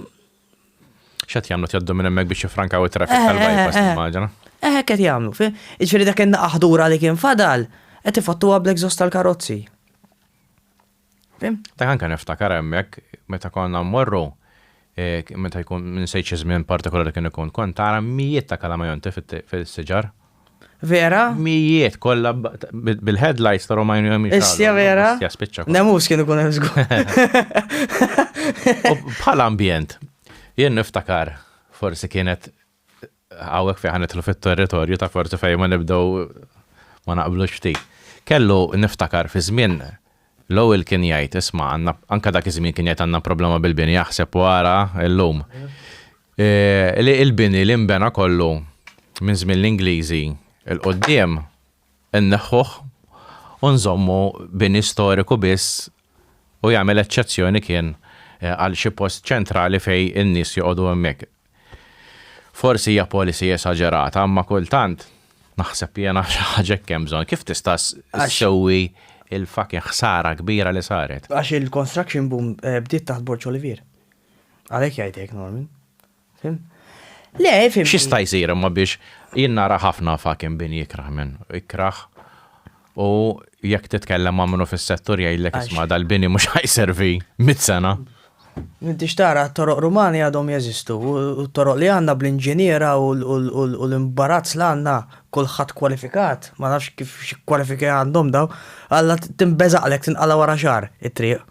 X'qed jagħmlu jgħaddu minn hemmhekk biex jiffrankaw it-traffic eh, tal-bypass eh, eh. immaġina. Eh, qed jagħmlu. Iġifieri dak in aħdura li kien fadal qed ifattuha bl-exhaust tal-karozzi. Dak anke niftakar hemmhekk meta konna mmorru meta jkun minn sejt xi żmien partikolari kien ikun, kont tara mijiet ta' kalamajonti fis-siġar. Vera? Mijiet kollha bil-headlights ta' Romajn u jemmi. Issja vera? Issja spiċċa. Nemus kien ikun hemm żgur. Bħal ambjent, jien niftakar forsi kienet Hawnhekk fejn ħa nidħlu fit-territorju ta' forsi fejn ma nibdew ma naqblux ftit. Kellu niftakar fi żmien Lowell kien jgħid isma' għandna anke dak iż-żmien kien jgħid għandna problema bil-bini aħseb u ara llum. Li l-bini li nbena kollu minn żmien l-Ingliżi 'l quddiem inneħħuh u nżommu bini storiku biss u jagħmel eċċezzjoni kien għal xi post ċentrali fejn in-nies joqogħdu hemmhekk. Forsi hija policy esaġerata, imma kultant naħseb jiena xi ħaġa hekk hemm bżonn. Kif tista' ssewwi l-fucking ħsara kbira li saret? Għax il-construction boom eh, bdiet taħt Borg Olivier. Għalhekk jgħid hekk Norman. Fim? Le, fim. X'jista' jsir imma biex jien nara ħafna fucking bin jikraħ minn ikraħ U jekk titkellem ma' minnu fis-settur jgħidlek isma' dal-bini mhux ħajservi mit sena. M'intix tara t-toroq Rumani għadhom jeżistu u t-toroq li għandna bl-inġiniera u l-imbarazz li għandna kulħadd kwalifikat, ma nafx kif xi kwalifiki għandhom dawn, alla tinbeżaqlek tinqala' wara xahar it-triq.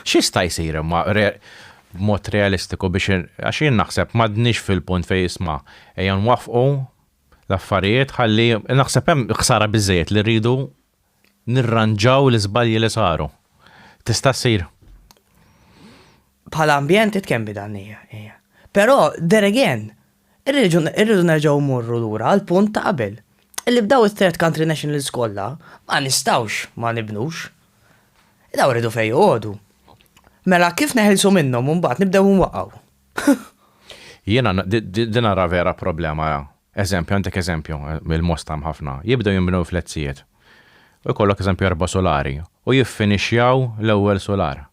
X'jista' jsir imma b'mod realistiku biex għax jien naħseb m'għadniex fil-punt fejn isma' ejja nwaffqu l-affarijiet ħalli naħseb hemm ħsara biżżejjed li rridu nirranġaw l-iżbalji li saru. Tista' ssir. Bħala ambjent it can be done hija. Però there again, irridu nerġgħu mmorru lura għal punt ta' qabel. Illi b'daw it-third country nationals kollha ma nistgħux ma nibnux. Daw rridu fejn joqogħdu. Mela kif neħilsu minnhom u mbagħad nibdew nwaqgħu? Jiena din ara vera problema ara. Eżempju, għandek eżempju, il-Mosta hemm ħafna. Jibdew jinbnew fletzijiet. U jkollok eżempju erba' sulari. U jiffinixjaw l-ewwel sular.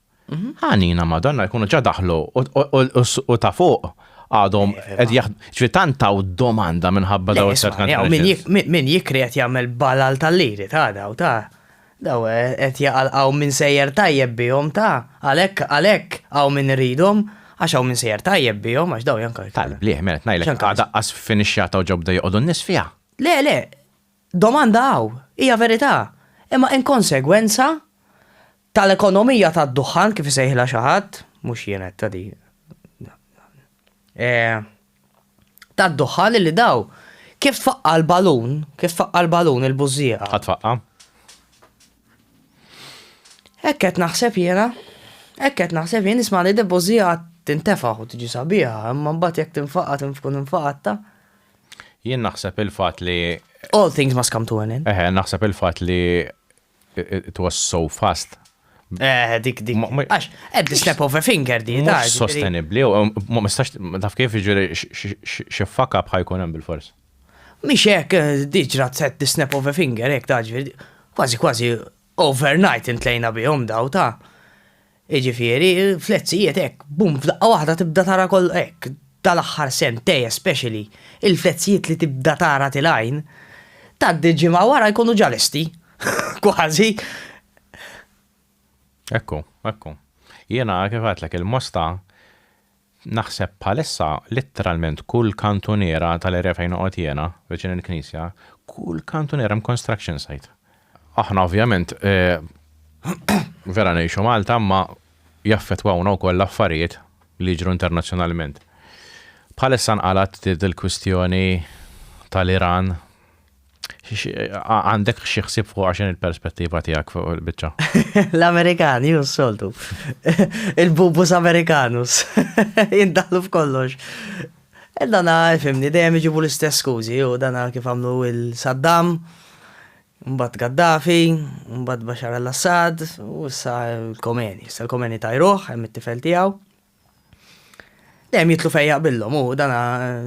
Ħanina Madonna jkunu ġa daħlu u ta' fuq għadhom qed jaħdmu. Ġifieri tant taw domanda minħabba dawn it-tlet kantieri. Min jikri qed jagħmel balal tal-liri ta' daw ta'. Daw qed jaqalqgħu min sejjer tajjeb bihom, ta! Għalhekk, għalhekk, hawn min iridhom, għax hawn min sejjer tajjeb bihom, għax daw janka. Tal-blieh, mela qed ngħidlek, għad aqqas f'inixjata u ġo bdew joqogħdu n-nies fiha. Le, le, domanda hawn, hija verità, imma inkonsegwenza tal-ekonomija tad-duħħan, kif isejħilha xi ħadd, mhux jien għedtha din, tad-duħħan illi daw kif tfaqqa' l-balun, kif tfaqqa' l-balun il-bużżieqa. Ħa tfaqqa'. Hekk qed naħseb jiena, hekk qed naħseb jien nisma' li dil-bużżieqa tintefa' u tiġi sabiħa, imma mbagħad jekk tinfaqa' tkun infaqatta. Jien naħseb il-fatt li. All things must come to an end. Eħe, naħseb il-fatt li It was so fast. Eh, dik dik. Għax, at the step of a finger di. Mux sostenibli, ma mistax, taf kif ġiri xiffaka bħajkun hemm bil-fors. Mix hekk eh, diġra at the snap of a finger, hekk taġvir, kważi kważi overnight intlejna bihom daw ta' Jiġifieri, fl-etzijiet hekk, bum, f'daqqa waħda tibda tara koll, hekk, dal-aħħar sentej especially, il-fl-etzijiet li tibda tara til-għajn, tgħaddi ġimgħa wara jkunu ġa lesti. Kważi. Ekku, ekku. Jiena kif għedtlek il-mosta Naħseb bħalissa litteralment kull kantuniera tal-area fejn noqgħod jiena, viċin il-knisja, kull kantuniera hemm construction site. Aħna ovvjament vera ngħixu Malta imma jaffettwawna wkoll l-affarijiet li jiġru internazzjonalment. Bħalissa nqalgħet il-kwistjoni tal-Iran, Għandek xi ħsieb fuq għaxin il-perspettiva tiegħek fuq il-biċċa? L-Amerikan, ju soltu. Il-bubus Amerikanus. Jindaħlu f'kollox. E dana, fimni, dejjem iġibu l-istess skużi, u dana kif għamlu il-Saddam, mbatt Gaddafi, mbatt Bashar al-Assad, u issa l-Komeni. Issa l-Komeni tajruħ, hemm it-tifel tiegħu. Dejjem jitlu fejn jaqbillhom u dan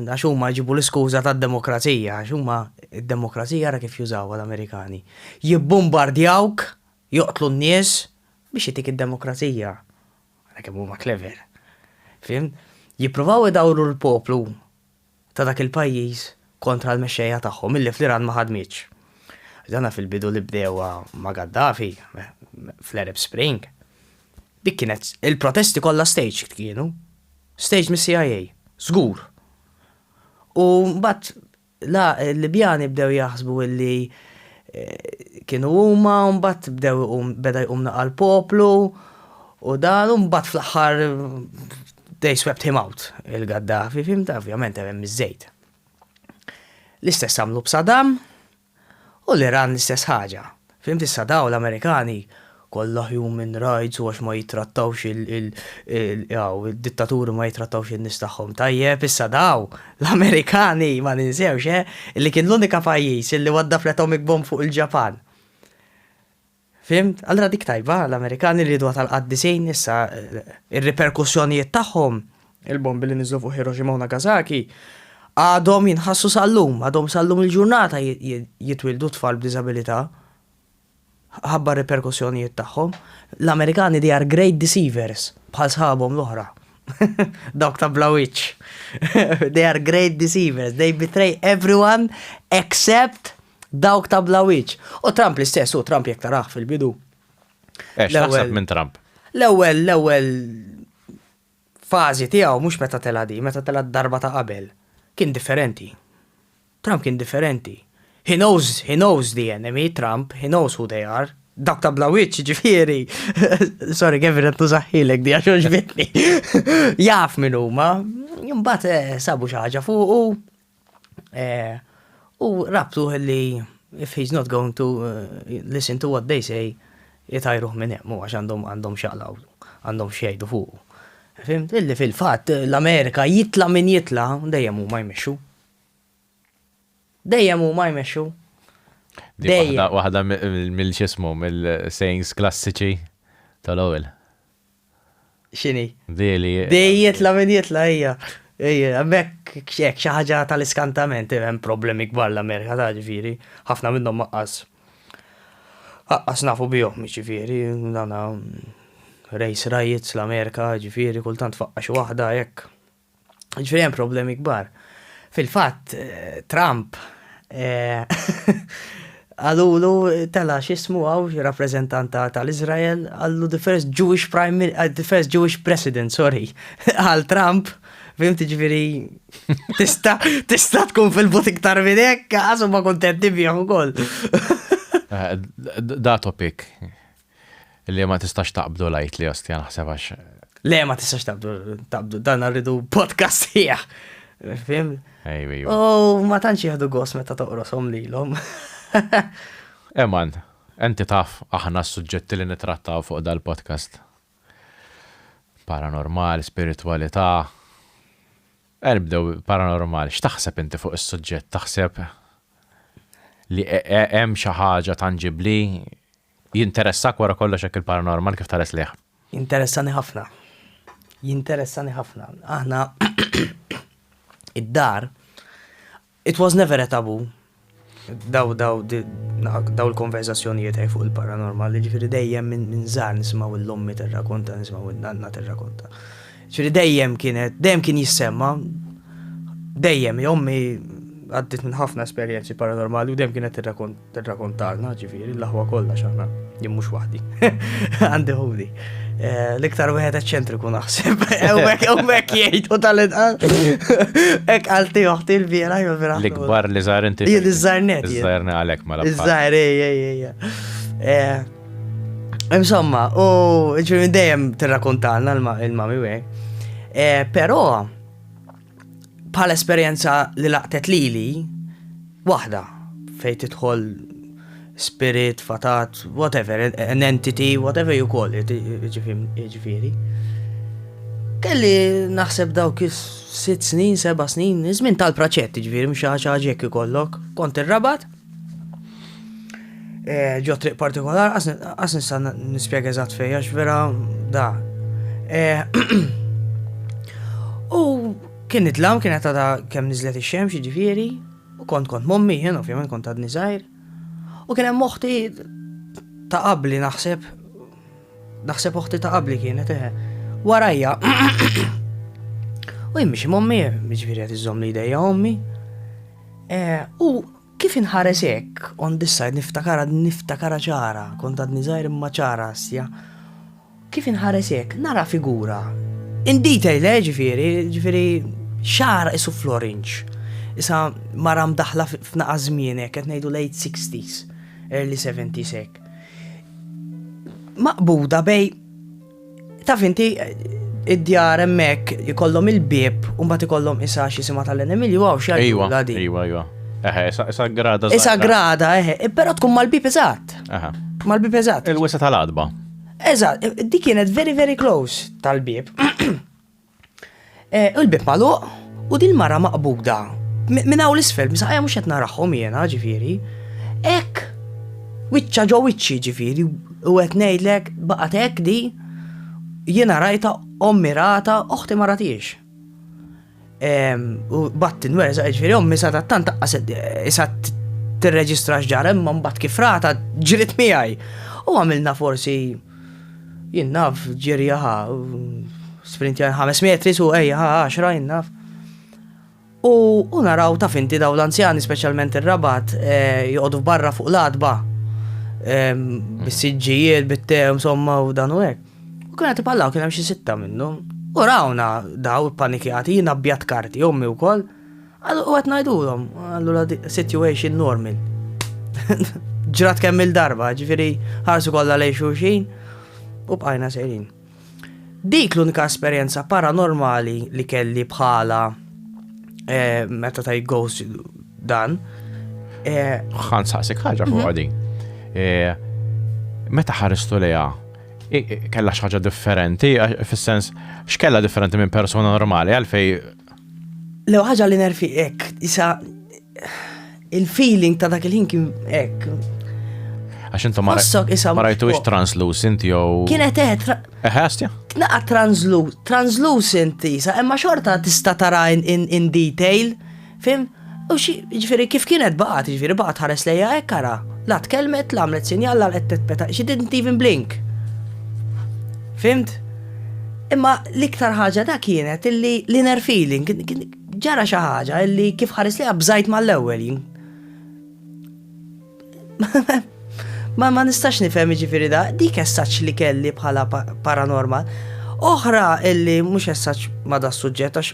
għax huma jġibu l-iskuża tad-demokrazija, għax huma d-demokrazija ra kif jużawha l-Amerikani. Jibbumbardjawk, joqtlu n-nies biex jtik id-demokrazija. Ara kemm huma clever. Fhimt? Jippruvaw idawru l-poplu ta' dak il-pajjiż kontra l-mexxejja tagħhom illi fl-Iran ma ħadmitx. Dana fil-bidu li bdewha ma' Gaddafi fl-Arab Spring. Dik kienet il-protesti kollha staged kienu. Staged mis-CIA. Żgur. U mbagħad la l-Libjani bdew jaħsbu illi eh, kienu huma u mbagħad bdew beda jqum naqal poplu u dan u mbagħad fl-aħħar They swept him out, il-Gaddafi, fimta, ovvjament hemm iż-żejt. L-istess għamlu b'Saddam u l-Iran l-istess ħaġa. Fimt issa daw l-Amerikani kollha human rights u għax ma jittrattawx il-dittaturi ma jittrattawx in-nies tagħhom tajjeb, issa daw l-Amerikani ma ninsewx eh, li kien l-unika pajjiż li wadda fl-atomic bomb fuq il-Ġapan. Fhimt? Allura dik tajba, l-Amerikani rieduha tal-qaddisin, issa r-riperkussjonijiet tagħhom, il-bombi li niżlu fuq Hiroshima u Nagasaki, għadhom jinħassu sal-lum, għadhom sal-lum il-ġurnata jitwieldu tfal b'diżabilità ħabba r-riperkussjonijiet tagħhom. L-Amerikani they are great deceivers bħal sħabhom l-oħra. Dawk ta' bla wiċċ. they are great deceivers. They betray everyone except Dawk ta' bla wiċċ. U Trump l-istess, u Trump jekk taraħ fil-bidu. Eh, x'taħseb minn Trump? L-ewwel, l-ewwel fażi tiegħu mhux meta tela' di, meta tela' darba ta' qabel, kien differenti. Trump kien differenti. He knows, he knows the enemy, Trump, he knows who they are. Dak ta' bla witch, ġifieri. Sorry, Kevin, għattu zaħħilek di għaxoġ bitni. Jaf minn huma, jimbat eh, sabu xaħġa fuq u Eh, u rabtu li if he's not going to eh, listen to what they say, jitajruħ minn hemm, għax għandhom għandhom xaqlaw, għandhom xejdu fuq. Fimt, illi fil-fat l-Amerika jitla minn jitla, dejjem huma jmexxu. Dejjem huma jmexxu. Dejjem. Waħda mill-ċismu, mill-sayings klassiċi tal-ewwel. Xini? Di li. Di jitla min jitla hija. Mek xek xaħġa tal-iskantament, hemm problemi kbar l-Amerika ta' ġifiri, ħafna minnhom maqqas. Aqqas nafu bihom ġifiri, dana race riots l-Amerika ġifiri, kultant faqqa xi waħda hekk. Ġifieri hemm problemi kbar. Fil-fatt, Trump għalulu tela xismu għaw rappresentant tal-Izrael għallu the first Jewish prime minister, the first Jewish president, sorry, għal Trump, fim tiġviri, tista, tista tkun fil-but iktar minn hekk, għasu ma kontenti bihom ukoll. Da topic. Le ma tistax taqbdu lajt li osti naħseb għax. Le ma tistax taqbdu, taqbdu, dan rridu podcast ħieħ. Fim? Ejwi. Oh, ma tantx jieħdu gos meta toqrosom lilhom. Eman, enti taf aħna s-suġġetti li nitrattaw fuq dal-podcast. Paranormal, spiritualità. Erbdew paranormal, x'taħseb inti fuq is-suġġett? Taħseb li e- e- hemm xi ħaġa tanġibli Jinteressak wara kollox hekk il-paranormal kif tares lejh? Jinteressani ħafna. Jinteressani ħafna. Aħna id-dar it was never a taboo daw daw daw il-konverzazzjonijiet għaj fuq il-paranormal, ġifiri dejjem minn zar nismaw l-lommi terrakonta, nismaw l-nanna terrakonta. ġifiri dejjem kienet, dejjem kien jissemma, dejjem, jommi għaddit minn ħafna esperienzi paranormali u dejjem kienet terrakont Tirrakontalna, ġifieri, l-aħwa kollha x'aħna, jien mhux waħdi. Għandi ħudi. Eh, l-iktar wieħed eċċentriku naħseb. Ewwek ewwek jgħid u tal-inqas. Hekk għalti oħti l-biera jew vera. L-ikbar li żgħar inti. Jien iż-żarnet. Iż-żarna għalek ma mela Iż-żgħar ejja eh, Insomma, u ġifieri dejjem tirrakontalna l-mami wej. Eh, però Bħal esperjenza li laqtet lili, waħda fej tidħol spirit, fatat, whatever, an entity, whatever you call it, ġifiri. Kelli naħseb dawk sitt snin, seba snin, żmien tal-praċett, ġifiri, mxaċaġek ikollok, kont ir-rabat, Eh, ġo triq partikolar, għas nista nispjega eżatt fejja, vera da. Eh, u kien nitlam, kien għata da kem nizlet il-xemx ġifiri, u kont kont mommi, jen ovvijament kont għad nizajr. U kien hemm oħti ta' qabli naħseb, naħseb oħti ta' qabli kienet eħe. Eh, warajja, u jimmi xie mommi, ġifiri għat iżom li ideja ommi, U kif inħares hekk on this side niftakara niftakara ċara, kont għadni żgħir imma ċara sja. Kif inħares hekk nara figura. In detail, eh, ġifieri, ġifieri xara isu florinċ. Issa mara mdaħla f'naqa żmien hekk qed ngħidu late 60s, early 70s hekk. Maqbuda bej Taf inti id-djar hemmhekk ikollhom il-bieb u mbagħad ikollhom isa x'jisimha tal-enemilju hawn xi Ejwa, ejwa, ejwa. Eħe, isa grada. Isa grada, eħe, e, però tkun mal-bieb eżatt. Eħe. Mal-bieb eżatt. Il-wisa tal-adba. Eżatt, e, dik kienet very very close tal-bieb. U l-bib magħluq u din mara maqbuda minn hawn l-isfel, msaqja mhux qed narahom jiena ġifieri. Hekk wiċċa ġo wiċċi ġifieri u qed ngħidlek baqgħet hekk di jiena rajta ommi rata oħti ma ratiex. U batti nwerza ġifieri ommi sa tant taqqaset isa tirreġistra x'ġara imma mbagħad kif rata ġriet miegħi. U għamilna forsi Jien naf, ġiri ħa, sprint jar 5 metri su ejja ħa 10 jien naf. U, u naraw taf inti daw l-anzjani, specialment il-rabat, eh, joqodu barra fuq l-adba. Bis-sidġijiet, bit-te, insomma, u dan u hekk. U kien għati pallaw, kien hemm xi sitta minnhom. U rawna daw panikjati, jien abjat karti, ommi wkoll. Għal u għat najdulom, għallura situation normal. Ġrat kemm il-darba, ġifiri ħarsu kollha lej xulxin u bqajna sejrin. Dik l-unika esperjenza paranormali li kelli bħala eh, meta ta' ghost dan. Għan eh, saqsik ħagġa fuq mhm. għadin. Eh, meta ħaristu leja kella xaġa differenti, fis-sens x'kella differenti minn persona normali għalfej Lew ħaġa li nerfi hekk, isa il-feeling ta' dak il-ħin kien hekk. Għax intom ma rajtu ix translucent jew. Kienet eħet. Eħestja? Tnaqa translucent, isa, imma xorta tista' tara in detail, fim? U xi, ġifieri kif kienet baqgħet, ġifieri baqgħet tħares lejha hekk ara, la tkellmet, la għamlet sinjal, la laqgħet petpeta, she didn't even blink. Fhimt? Imma l-iktar ħaġa da kienet illi l-inner feeling, ġara xi ħaġa illi kif ħares lejha bżajt mal-ewwel jien. Ma ma nistax nifhem ġifieri da, dik essaċ li kelli bħala paranormal. Oħra illi mhux essaċ ma da suġġett għax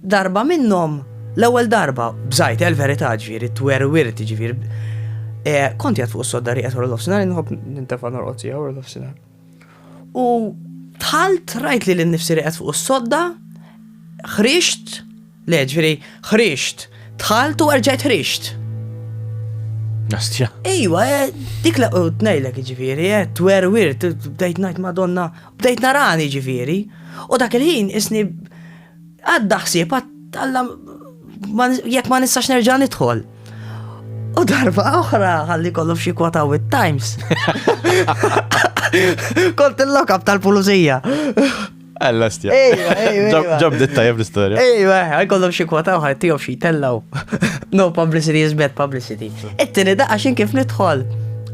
Darba minnhom, l-ewwel darba, bżajt, il-verità ġifieri, twerwirt ġifieri, kont jgħad fuq is-sodda rieqet wara l-ofsinar, inħobb nintefa' norqod sija wara l-ofsinar. U dħalt rajt lili nnifsi rieqet fuq is-sodda, ħriġt, le ġifieri, ħriġt, dħalt u erġajt ħriġt. Nastja. Ejwa, eh, dik la qut ngħidlek ġifieri, eh, twerwirt, bdejt ngħid Madonna, bdejt narani ġifieri. U dak il-ħin isni Għadda ħsieb Alla jekk ma nistax nerġa' nidħol. U darba oħra ħalli kollu f'xi kwota with times. Kont il-lokab tal-pulizija. Alla stja. Ġob dit tajab l-istoria. Ejwa, għajkollom xie kwota uħaj tijom xie tellaw. No publicity is bad publicity. Ittini da għaxin kif nidħol.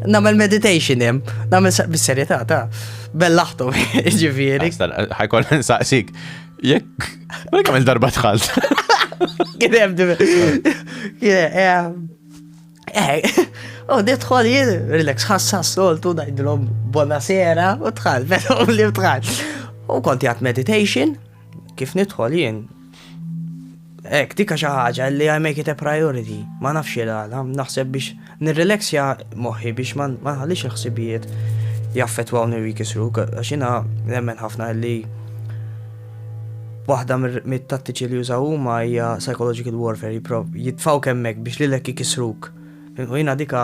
Namel meditation jem, namel bis-serjetà ta' bellaħtu ġifieri. Ħajkol nsaqsik, Jekk. Jekk għamil darba tħalt. Kien hemm divi. U nidħol jien, relax, ħassa s-soltu najdlom bona sera u tħal, vera u li tħal. U konti għat meditation, kif nidħol jien, Hekk, dik xi ħaġa li I make it a priority, ma nafx il-għala, naħseb biex nirrelaxja moħħi biex ma nħallix il-ħsibijiet jaffetwawni u jkisru, għax jiena nemmen ħafna li waħda mit-tattiċi li jużaw huma hija psychological warfare, jitfaw kemmek biex lilek ikisruk. U jina dika,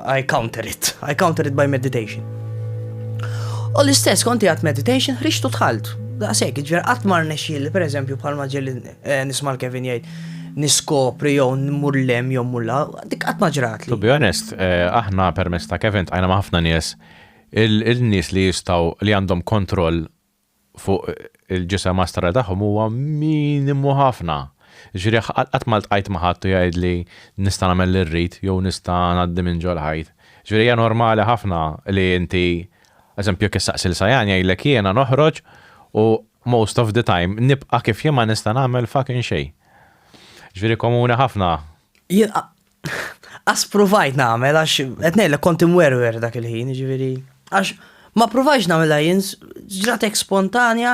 I counter it, I counter it by meditation. U l-istess konti għat meditation, ħriġtu tħalt. Daqsek, ġver għat mar nexil, per eżempju, bħal maġel eh, nismal Kevin jgħid, niskopri jew nmur lem jew mulla, dik għat maġrat li. To be honest, eh, aħna permess ta' Kevin tajna maħfna nies, il-nies li jistaw li għandhom kontroll fuq il-ġisem astra tagħhom huwa minimu ħafna. Jiġifieri qatt ma ltqajt ma' ħadd u jgħidli nista' nagħmel li rrid jew nista' ngħaddi minn ġol-ħajt. Jiġifieri hija normali ħafna li inti, eżempju jekk issaqsi lil Sayan jgħidlek jiena noħroġ u most of the time nibqa' kif jien ma nista' nagħmel fucking xejn. Jiġifieri komuni ħafna. Jien Għas provajt nagħmel għax qed ngħidlek kont imwerwer dak il-ħin, ġifieri. Għax ma provajx nagħmilha jien, ġratek spontanja.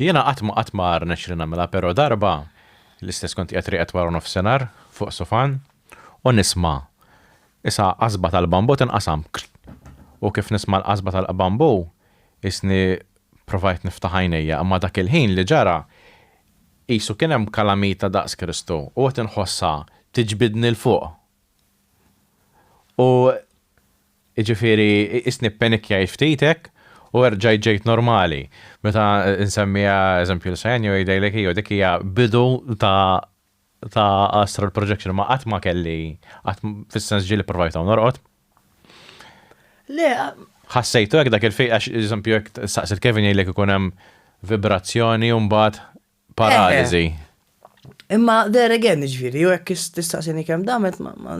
Jiena qatt ma qatt ma rnex li nagħmilha, però darba l-istess kont qiegħed rieqed wara nofsinhar fuq sofan u nisma' isa qasba tal-bambu tinqasam. U kif nisma' l-qasba tal-bambu, isni provajt niftaħ għajnejja, imma dak il-ħin li ġara Qisu kien hemm kalamita daqs Kristu u qed inħossha tiġbidni 'l fuq. U jiġifieri qisni ppenikkjajt ftit hekk u erġajt ġejt normali. Meta nsemmiha eżempju lil Sajan jew jgħidha jgħidlek iju dik hija bidu ta' ta' astral projection, ma qatt ma kelli, qatt fis-sens ġieli provajt hawn norqod. Le, ħassejtu hekk dak il-fejq għax eżempju jekk saqsil Kevin jgħidlek ikun hemm vibrazzjoni u mbagħad paraliżi. Imma there again, ġifieri, jew hekk tistaqsini kemm damet ma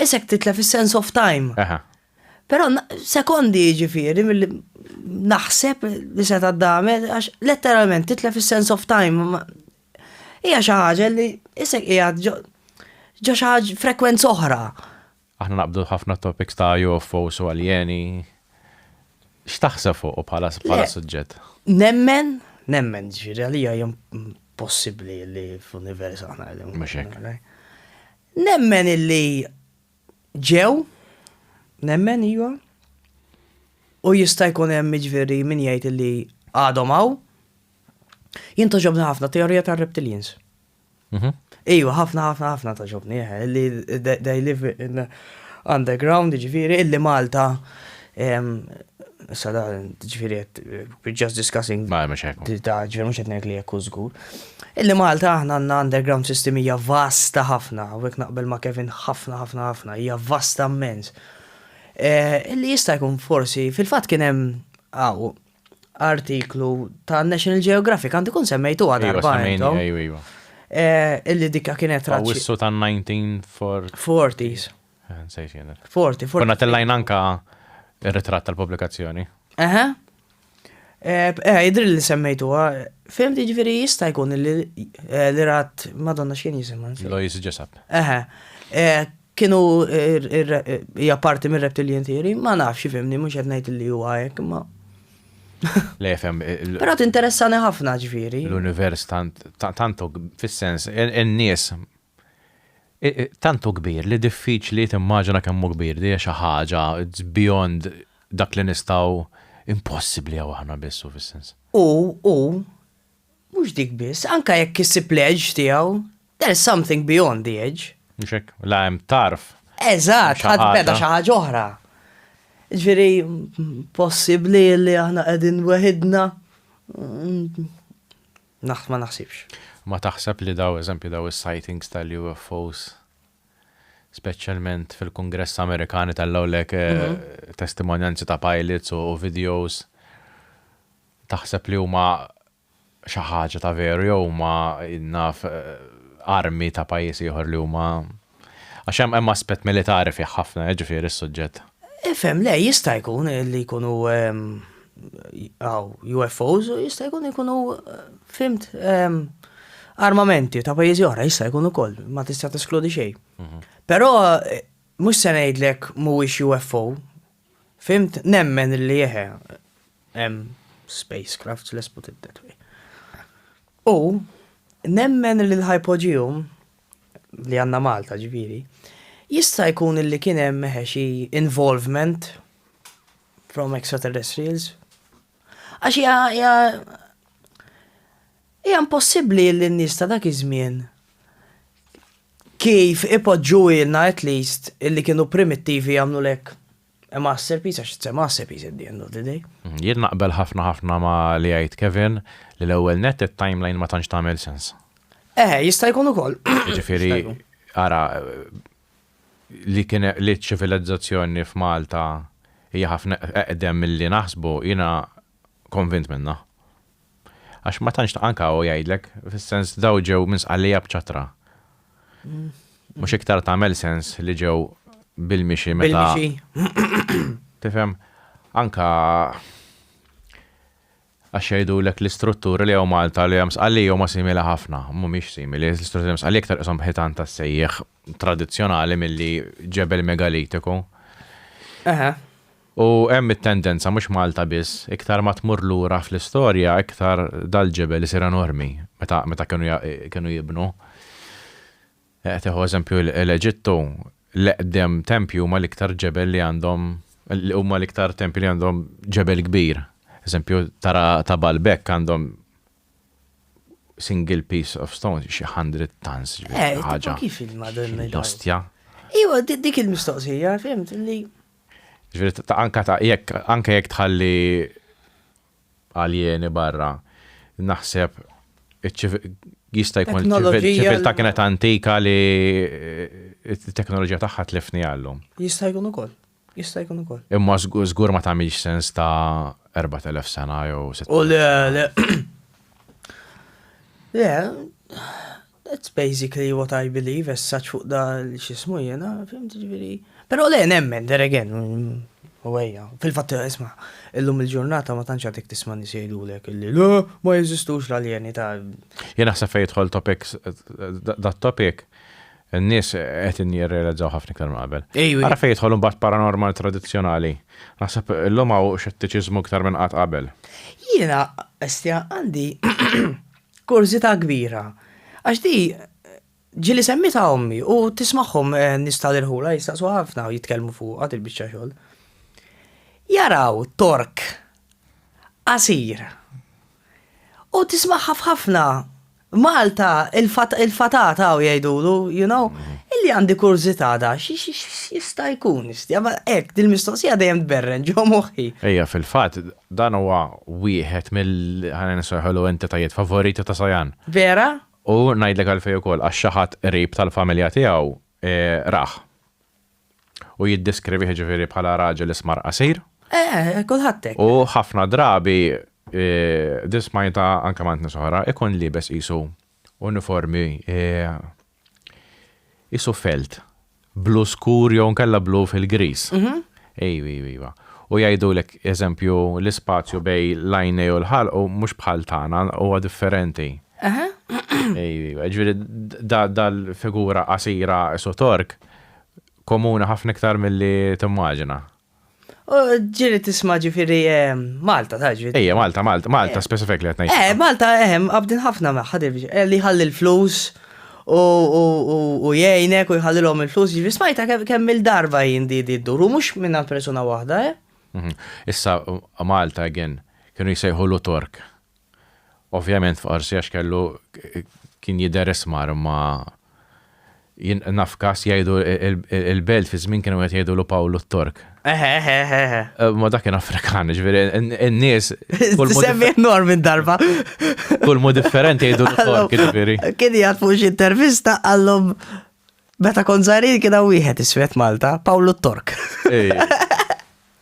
isek titlef is-sense of time. Però sekondi ġifieri milli naħseb li se taddamet għax letteralment titlef is-sense of time Hija xi ħaġa li isek qiegħed ġo xi ħaġa frekwenza oħra. Aħna naqbdu ħafna topics ta' UFOs u aljeni. X'taħseb fuq bħala suġġett? Nemmen, nemmen ġifieri għalija hija possibbli li fl-univers aħna qegħdin. Mhux hekk. Nemmen illi ġew, nemmen iva, u jista' jkun hemm ġifieri min jgħid illi għadhom hawn, Jien toġobni ħafna teorija ta' reptilians. Mhm. Ejwa, ħafna, ħafna, ħafna toġobni, eh, li they live in underground, ġifiri, illi Malta, sada, ġifiri, we're just discussing. Ma, ma xekku. Da, ġifiri, mux etnek li jekku zgur. Illi Malta, aħna għanna underground system hija vasta ħafna, u naqbel ma' Kevin ħafna, ħafna, ħafna, hija vasta mmens. Eh, illi jista' jkun forsi, fil-fat kienem, għaw, artiklu ta' National Geographic, għandu kun semmejtuha Iva, darba semmejni, intom, iva, iva. eh, illi dikka kienet raċi. Awissu ta' 1940. 40s, Eh, Nsejt jien. 40, 40. Konna tellajna anka ir-ritratt tal-pubblikazzjoni. Eħe. Eh, eh, jidri li semmejtuha. Fim ġifiri jista' jkun li eh, li rat Madonna x'kien jisimha. nsejt. Lois Jessup. Eħe. Eh, Kienu hija parti mir-reptilian theory, ma nafx ifhimni mhux qed ngħid li huwa hekk, ma. Le fem. Però tinteressani ħafna ġifieri. L-univers tantu fis-sens in-nies tantu kbir li diffiċli timmaġina kemm hu kbir, hija xi ħaġa beyond dak li nistgħu impossibbli jew aħna biss hu fis-sens. Hu, hu, Mhux dik biss, anke jekk isib l-edge tiegħu, there's something beyond the edge. Mhux hekk, la hemm tarf. Eżatt, ħadd beda xi ħaġa oħra. Ġifieri possibbli li aħna qegħdin weħidna? Mm, Naħt ma naħsibx. Ma taħseb li daw eżempju daw is-sightings tal-UFOs speċjalment fil-Kongress Amerikani tal-lawlek eh, mhm. testimonjanzi ta' pilots u videos Taħseb li huma xi ħaġa ta' veru jew huma naf armi ta' pajjiż ieħor li huma għax hemm hemm aspett militari fih ħafna jiġifieri s-suġġett. Ifhem, le jista' jkun li jkunu hawn UFOs u jista' jkun jkunu fhimt armamenti ta' pajjiżi oħra jista' jkun ukoll, ma tista' teskludi xejn. Però mhux se ngħidlek mhuwiex UFO Fhimt, nemmen li eħe, hemm spacecrafts, let's put it that way. U nemmen li l-hypogeum, li għanna Malta ġviri, jista' jkun li kien hemm eħe xi involvement from extraterrestrials. Għax hija Hija impossibbli li n-nies ta' dak iż-żmien, kif ipoġġuhielna at least, illi kienu primittivi jagħmlulek a masterpiece, għax it's a masterpiece at the end of the day. Jien naqbel ħafna ħafna ma' li għidt Kevin, li l-ewwel nett it-timeline ma tantx tagħmel sens. Eħe, jista' jkun ukoll. Jiġifieri, ara, li kien li ċ-ċivilizzazzjoni f'Malta hija ħafna eqdem milli naħsbu, jiena konvint minnha. Għax ma tantx taqan kawa jgħidlek, fis-sens daw ġew minn sqallija b'ċatra. Mhux iktar tagħmel sens li ġew bil-mixi meta. Tifhem? Anka għax jgħidu l l-istrutturi li għaw Malta li għam sqalli għaw ma simili ħafna, mumiex simili, l-istrutturi għam sqalli iktar isom ħitan ta' sejjeħ tradizjonali mill-li ġebel megalitiku. Aha. U hemm it-tendenza, mhux Malta biss, iktar ma tmur lura fl-istorja iktar dal-ġebel isir enormi meta meta kienu kienu jibnu. Tieħu eżempju l-Eġittu, l-eqdem tempji huma l-iktar ġebel li għandhom huma l-iktar tempji li għandhom ġebel kbir. Eżempju tara ta' Baalbek għandhom single piece of stone, xi 100 tons. Eh, ħaġa. Kif il-Madonna? L-ostja. Iwa, dik il-mistoqsija, fimt, li Ġifieri ta' anke ta' jekk anke jekk tħalli aljeni barra, naħseb iċ-ċivi-, jista' jkun Teknoloġija- ċiviltà kienet antika li t-teknoloġija tagħha tlifniha llum. Jista' jkun ukoll. Jista' jkun ukoll. Imma żgu-, żgur ma tagħmilx sens ta' 4,000 sena jew sitt. U le, le. Le, That's basically what I believe, as such fuq da l-xismu jena, fimt ġviri. Pero le, nemmen, there again, u għeja. Fil-fat, isma, illum il-ġurnata ma tanċa dik tisma nisejdu lek, illi le, ma jizistux l-aljeni ta' Jena sa fejtħol topic, da topic, n-nis għet n-jirrealizzaw ħafna ktar maqbel. Għara fejtħol un bat paranormal tradizjonali. Nasab, illum għaw xettiċizmu ktar minn għat qabel. Jena, estja, għandi Kurżità kbira. Għax di ġieli semmitha ommi u tismagħhom eh, nies tal-irħula jistaqsu ħafna u jitkellmu fuqha il-biċċa xogħol. Jaraw tork qasir. U tismagħha f'ħafna Malta il-fatata u jgħidulu, you know, illi għandi kurżità da, jista' jkun, istja, ma hekk dil-mistoqsija dejjem tberren ġo moħħi. Ejja fil-fatt Dan huwa wieħed mill, ħalli nsejħulu, entitajiet favoriti ta' Sayan. Vera? U ngħidlek għalfejn ukoll, għax xi ħadd qrib tal-familja tiegħu rah. U jiddeskrivih ġifieri bħala raġel ismar qasir. Eh, kulħadd hekk. U ħafna drabi, din smajtha anke mant nies oħra, ikun liebes qisu Uniformi isu felt, blu skur jew nkella blu fil-griż. Mhm. Ejw, ejw, ejwa. U jgħidulek, eżempju, l-ispazju bej l-għajnej u l-ħalq u mhux bħal tagħna, huwa differenti. Aha. Ejw, ejwa. Ġifieri da dal-figura qasira isu Tork komuni ħafna iktar milli timmaġina. Ġiri tisma ġifiri Malta, ta' ġifiri. Ejja, Malta, Malta, Malta, specifik li għatnajt. Eh, Malta, eh, għabdin ħafna maħħad eh, li ħalli l-flus u jgħinek u jħallilhom il-flus, ġifiri smajta kemm il-darba jindi di d-duru, mux minna persona wahda, eh. Mhm. Issa, Malta, again, kienu jisajħu l-Tork. Ovvjament f'qorsi għax kellu kien jidher ismar imma jien naf każ jgħidu il-belt fi żmien kienu qed jgħidulu Pawlu t-Tork. Eħe, eħe, eħe, eħe. Ma dak kien Afrikan, ġifieri n-nies. Semmi Norm minn darba. Kull mod differenti jgħidu l-Tork, ġifieri. Kien jgħid fuq xi intervista għallhom meta kont żgħirin kien hawn wieħed iswed Malta, Pawlu t-Tork.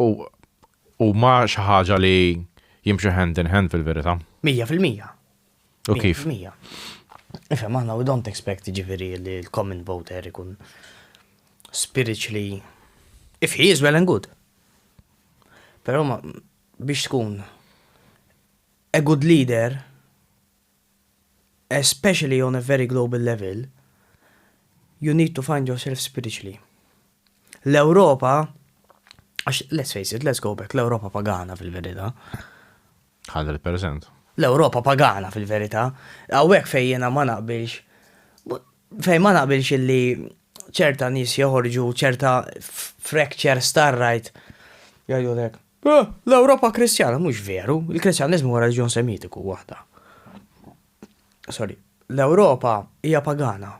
U huma xi ħaġa li jimxu hand in hand fil-verità. Mija fil-mija. U kif? Mija. Ifhem aħna we don't expect jiġifieri li l-common voter ikun spiritually if he is well and good. Però biex tkun a good leader especially on a very global level, you need to find yourself spiritually. L-Ewropa, għax let's face it, let's go back, l-Ewropa pagana fil-verita. 100%. L-Ewropa pagana fil-verita. Għawek fejjena ma naqbilx. Fejn ma naqbilx illi ċerta nies joħorġu ċerta fractures tar-right jgħidulek, eh, l-Ewropa Kristjana, mhux veru, il-Kristjaniżmu huwa reliġjon Semitiku waħda. Sorry, l-Ewropa hija pagana.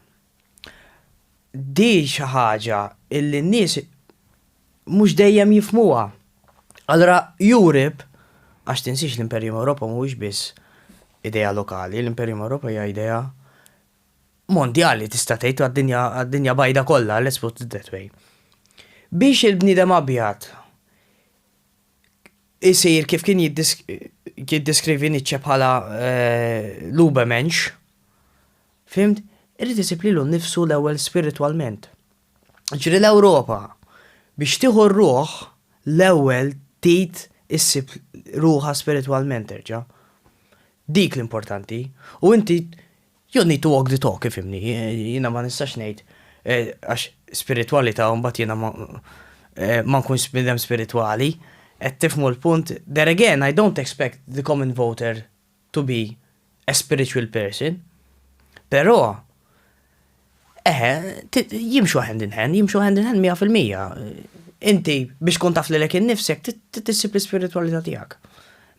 Di xi ħaġa illi n-nies mhux dejjem jifmuha. Allora Europe, għax tinsiex l-Imperjum Ewropa mhuwiex biss idea lokali, l-Imperjum Ewropa hija idea mondjali tista' tgħid għad-dinja għad-dinja bajda kollha, let's put it that way. Biex il-bniedem abjad isir kif kien jiddeskrivi Nietzsche bħala l-Ubermensch, fimt, irid isib lilu nnifsu l-ewwel spiritwalment. Ġifieri l-Ewropa biex tieħu r-ruħ l-ewwel trid issib ruħha spiritwalment terġa'. Dik l-importanti. U inti You need to walk the talk, ifhimni, jiena ma nistax ngħid għax spiritwalità u mbagħad jiena ma nkunx bniedem spiritwali, qed tifhmu l-punt? There again, I don't expect the common voter to be a spiritual person, però Eħe, jimxu hand in hand, jimxu hand in hand 100%. Inti biex tkun taf lilek innifsek tissib l-ispiritualità tiegħek.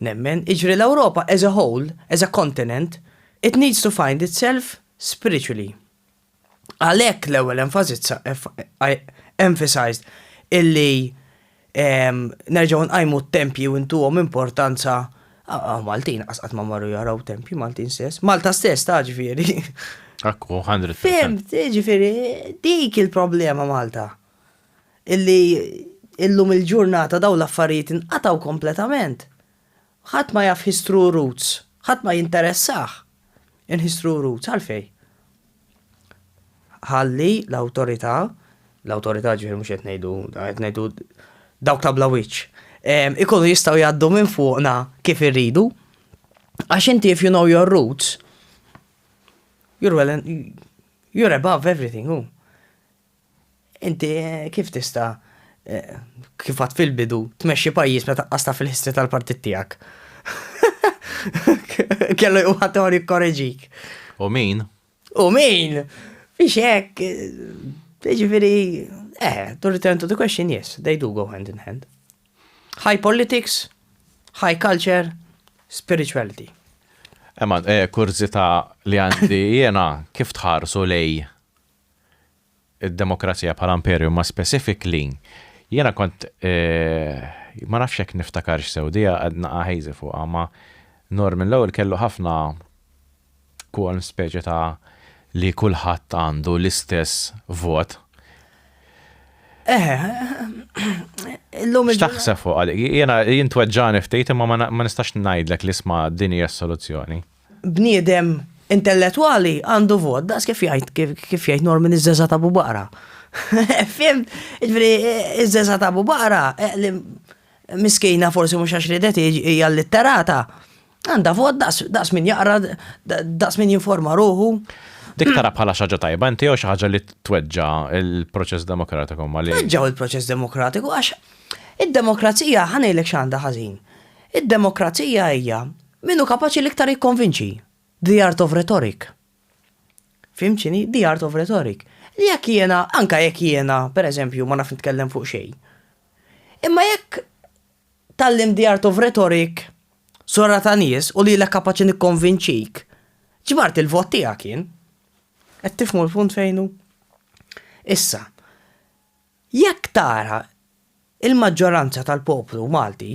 Nemmen, iġri l-Ewropa as a whole, as a continent, it needs to find itself spiritually. Għalhekk l-ewwel emphasized illi nerġgħu nqajmu t-tempji u ntuhom importanza Maltin qasqat ma marru jaraw tempji Maltin stess, Malta stess ta' ġifieri. Akku, 100%. Fem, ġifieri, dik il-problema Malta. Illi illum il-ġurnata daw l-affarijiet inqataw kompletament. Ħadd ma jaf his true roots. Ħadd ma jinteressah in his true roots. Għalfejn? Ħalli l-awtorità, l-awtorità ġifieri mhux qed ngħidu, qed ngħidu dawk ta' bla wiċċ, ehm, ikunu jistgħu jgħaddu minn fuqna kif irridu. Għax inti if you know your roots, you're well and you're above everything, hu. Inti kif tista', kif għad fil-bidu, tmexxi pajjiż meta qqas taf il-history tal-partit tiegħek? Kellu jqum ħadd ieħor jikkoreġik. U min? U min? Fiex hekk, jiġifieri, eh, to return to the question, yes, they do go hand in hand. High politics, high culture, spirituality. Ema, eh, kurzita li għandi jena kif tħarsu lej id-demokrazija bħala imperju ma' specific li jiena kont ma nafx jekk niftakarx sew di qed naqa' hazy fuqha ma' Norman l-ewwel kellu ħafna quorum speċi ta' li kulħadd għandu l-istess vot. X'taħseb fuqha dik? Jiena jien tweġġagħni ftit imma ma nistax ngħidlek li isma' din hija s-soluzzjoni. Bniedem intellettwali għandu vot, daqs kif jgħid kif jgħid Norman iż-żeza ta' Abu Baqra. Fim, ġifieri iż-żeza ta' Abu Baqra eh, li miskina forsi mhux għax ridet hija litterata. Għandha vot daqs min jaqra, daqs min jinforma ruħu. Dik tara bħala xaġa tajba, inti jew xi ħaġa li tweġġa il-proċess demokratiku ma li. Tweġġaw il-proċess demokratiku għax id-demokrazija ħanejlek x'għandha ħażin. Id-demokrazija hija Min hu kapaċi l-iktar jikkonvinċi? The Art of Rhetoric. Fhimt x'inhi? The Art of Rhetoric. Li jekk jiena, anke jekk jiena, pereżempju, ma nafx nitkellem fuq xejn. Imma jekk tgħallimt The Art of Rhetoric, Sura ta' Nies, u lilek kapaċi nikkonvinċik, ġbart il-vot tiegħek jien. Qed tifhmu l-punt fejn hu? Issa, Jekk tara, il-maġġoranza tal-poplu Malti,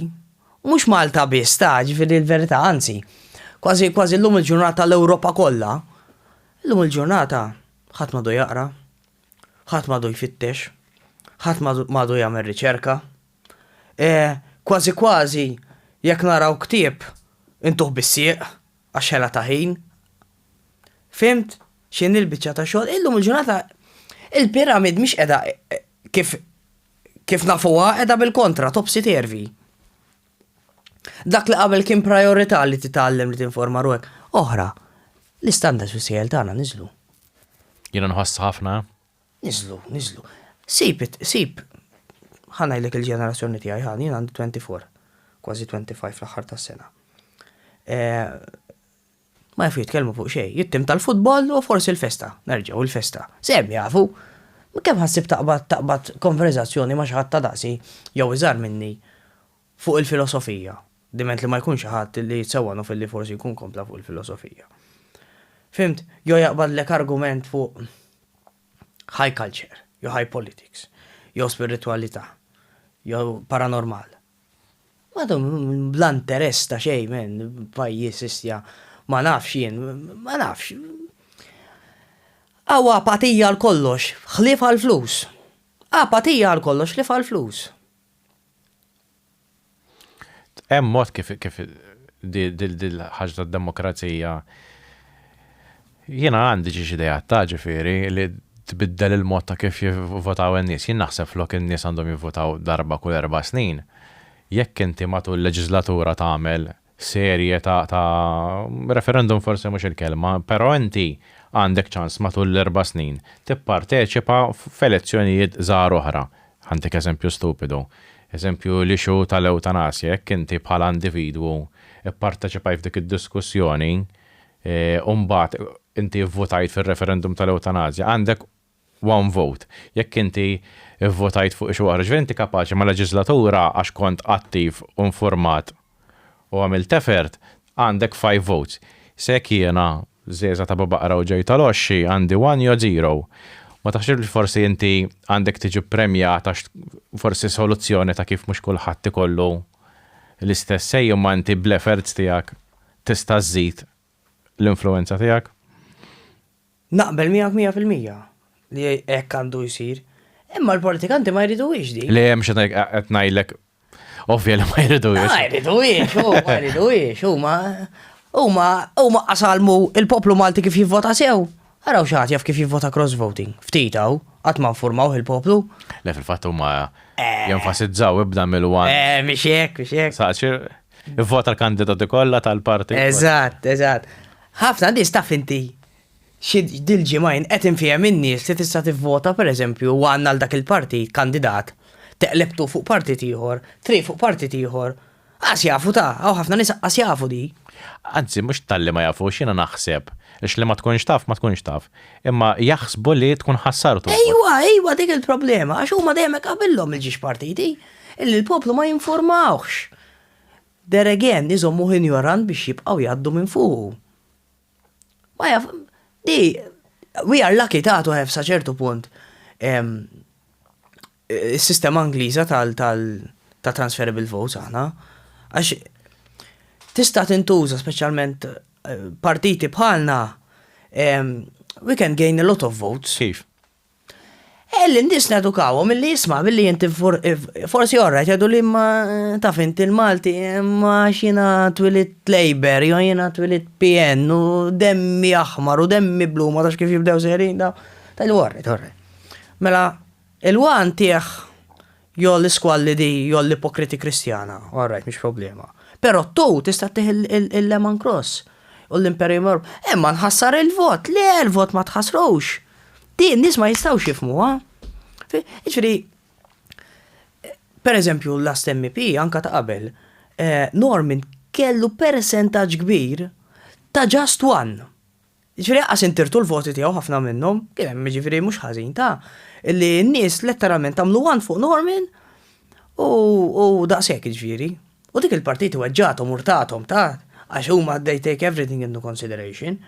u mhux Malta biss ta, ġifieri l-verità, anzi, kważi kważi llum il-ġurnata l-Ewropa kollha, illum il-ġurnata ħadd m'għadu jaqra, ħadd m'għadu jfittex, ħadd m'għadu jagħmel riċerka. Kważi kważi jekk naraw ktieb intuh bis-sieq. Għax ħela ta' ħin. Fhimt x'inhi l-biċċa ta' xogħol? Illum il-ġurnata il-pyramid mhix qiegħda kif kif nafuha qiegħda bil-kontra topsy tervi. Dak li qabel kien priorità li titgħallem li tinforma ruħek, oħra, l-istandards fis-sejjel tagħna niżlu. Jiena nħoss ħafna Niżlu, niżlu. Sib it, sib. Ħa ngħidlek il-ġenerazzjoni tiegħi, ħa, jien għandi 24, kważi 25 fl-aħħar tas-sena. Eh, ma jafu jitkellmu fuq xejn, jittim tal-futbol u forsi l-festa, nerġgħu l-festa. Sem jafu, kemm ħassib taqbad taqbad konverzazzjoni ma xi ħadd ta' daqsi jew iżar minni Fuq il-filosofija, diment li ma jkun xi ħadd li jitsewwanhu filli forsi jkun kompla fuq il-filosofija. Fhimt? Jew jaqbadlek argument fuq high culture, jew high politics, jew spiritwalità, jew paranormal. Ma dum bla interess ta' xejn men, pajjiż istja ma nafx jien, ma nafx. Hawn apatija għal kollox, ħlief għall-flus. Apatija għal kollox ħlief għall-flus. Hemm mod kif kif dil-ħaġa tad-demokrazija jiena għandi xi ideat ta' ġifieri li tbiddel il-mod ta' kif jivvotaw in-nies. Jien naħseb flok in-nies għandhom jivvotaw darba kull erba' snin. Jekk inti matul leġislatura tagħmel serje ta' ta' referendum forsi mhux il-kelma, però inti għandek ċans matul l-erba' snin tipparteċipa f'elezzjonijiet żgħar oħra. Ħantik eżempju stupidu. Eżempju l-issue tal-ewtanasja, jekk inti bħala individwu pparteċipajt f'dik id-diskussjoni u mbagħad inti vvutajt fir-referendum tal-ewtanasja, għandek one vote. Jekk inti vvotajt fuq xi waħda, jiġifieri inti kapaċi mal-leġiżlatura għax kont attiv u infurmat u għamilt effort, għandek five votes. Issa jekk jiena, żgħeżagħ ta' Babaqra u ġej tal-Għoxxi, għandi one jew zero, ma taħsibx li forsi inti għandek tiġi ppremjat għax forsi soluzzjoni ta' kif mhux kulħadd ikollu l-istess say imma inti bl-efforts tiegħek tista' żżid l-influwenza tiegħek? Naqbel miegħek mija fil-mija li hekk għandu jsir, imma l-politikanti ma jriduhiex din. Le, mhux qed ngħidlek ovvja li ma jriduhiex. Ma jriduhiex, u ma jriduhiex, huma huma huma qasalmu il-poplu Malti kif jivvota sew. Araw xi jaf kif jivvota cross voting. Ftit hawn, qatt ma nfurmaw il-poplu. Le fil-fatt huma eh. jenfasizzaw ibda mill-wan. Eh, mhix hekk, mhix hekk. Saċir, ivvota l-kandidati kollha tal-parti. Eżatt, eżatt. Ħafna nies taf inti xi dil-ġimgħin qed infiehem in-nies li tista' tivvota pereżempju u għandna għal dak il-partit kandidat, teqleb tu fuq partit ieħor, three fuq partit ieħor, qas jafu ta, hawn ħafna nies qas jafu di. Anzi mhux talli ma jafux jiena naħseb, għax li ma tkunx taf ma tkunx taf, imma jaħsbu li tkun ħassartu l-vot. Ejwa, ejwa dik il-problema, għax huma dejjem hekk qabilhom il-ġiex partiti, illi l-poplu ma jinfurmawhx. There again, iżommuh injorant biex jibqgħu jgħaddu minn fuqu. Ma jaf, di, we are lucky ta' to have sa ċertu punt is-sistema Ingliża tal ta' transferable votes aħna. Għax tista' tintuża speċjalment eh, partiti bħalna we can gain a lot of votes. Kif? Eh, l-indis nedukawhom milli jisma' milli inti forsi orra jgħidu li ma taf inti l-Malti ma xina twilit Labour jew jiena twilit PN u demmi aħmar u demmi blu ma tafx kif jibdew serin da. Tajlu orra, orra. Mela, il-wan tieħ Jew l-isqualli di jew l-ipokriti Kristjana, all right, mhix problema. Però tu tista' ttih il-lemon cross u l-imperium herb. Imma nħassar il-vot, le l-vot ma tħassrux. Di n-nies ma jistgħux jifmuha. Ġifieri, per eżempju, l-last MEP anka ta' qabel, eh, Norman kellu percentaġġ kbir ta' just one. Jiġifieri anqas intirtu l-voti tiegħu ħafna minnhom, kien hemm jiġifieri mhux ħażin ta' li n-nies letteralment għamlu one fuq Norman u u daqshekk jiġifieri. U dik il-partiti weġġagħthom u rtathom ta' għax huma they take everything into consideration.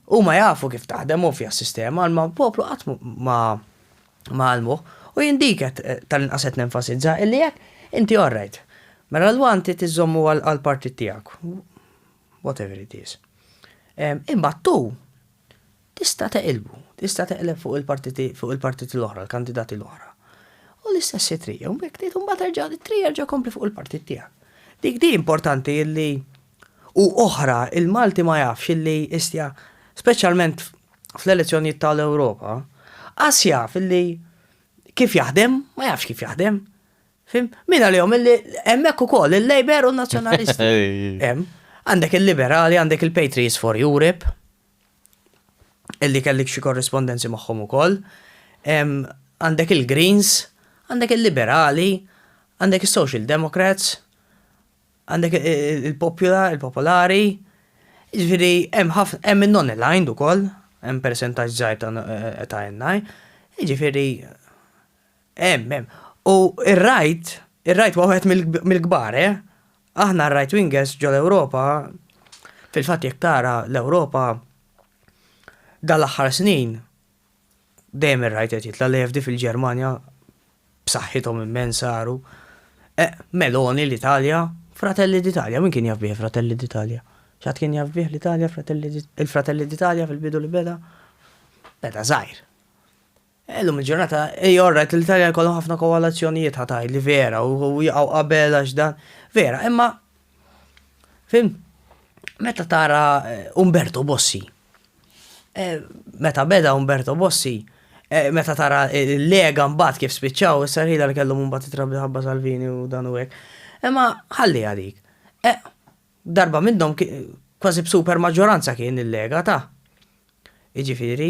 Huma jafu kif taħdem ovvja s-sistema imma l-poplu qatt ma ma għallmuh u jien dik qed tal-inqas qed nenfasizza illi jekk inti all right mela l-one trid iżżommu għall-partit tiegħek. whatever it is. Imbagħad tu tista' teqilbu, tista' teqleb fuq il-partiti fuq il-partiti l-oħra, l-kandidati l-oħra. U l-istess it-trija, u mek tgħid imbagħad erġa' it-trija erġa' kompli fuq il-partit tiegħek. Dik di importanti illi u oħra il-Malti ma jafx illi istja speċjalment fl-elezzjonijiet tal-Ewropa, qas jaf illi kif jaħdem, ma jafx kif jaħdem. Fim? Min għalihom illi hemmhekk ukoll il-Labour u n-Nazzjonalisti. Hemm. Għandek il-Liberali, għandek il-Patriots for Europe, illi kellik xi korrispondenzi magħhom ukoll. Għandek il-Greens, għandek il-Liberali, għandek is-Social Democrats, għandek il-Popula, il-Popolari, ġifieri hemm ħafna hemm in-non-aligned ukoll, hemm percentaġġ żgħir ta' NI, ġifieri Hemm, hemm. U r-right, ir-right huwa wieħed mill-kbar, eh? Aħna r-right wingers ġol-Ewropa, fil-fatt jekk tara l-Ewropa dan l-aħħar snin dejjem ir-right qed jitla' l-EFD fil-Ġermanja b'saħħithom immen saru. Eh, Meloni l-Italja, Fratelli d'Italja, min kien jaf bih Fratelli d'Italja? X'għad kien jaf bih l-Italja, il-Fratelli d'Italja fil-bidu li beda? Beda żgħir. Illum il-ġurnata hija alright li l-Italja jkollhom ħafna kowalazzjonijiet ħa tgħidli vera u jaqgħu qabel għax dan. Vera, imma fhimt meta tara Umberto Bossi meta beda Umberto Bossi meta tara l-Lega mbagħad kif spiċċaw issa rħilha li kellhom imbagħad it-trabli ħabba Salvini u dan u hekk. Imma ħalliha dik. Darba minnhom kważi b'super maġġoranza kien il-Lega ta. Jiġifieri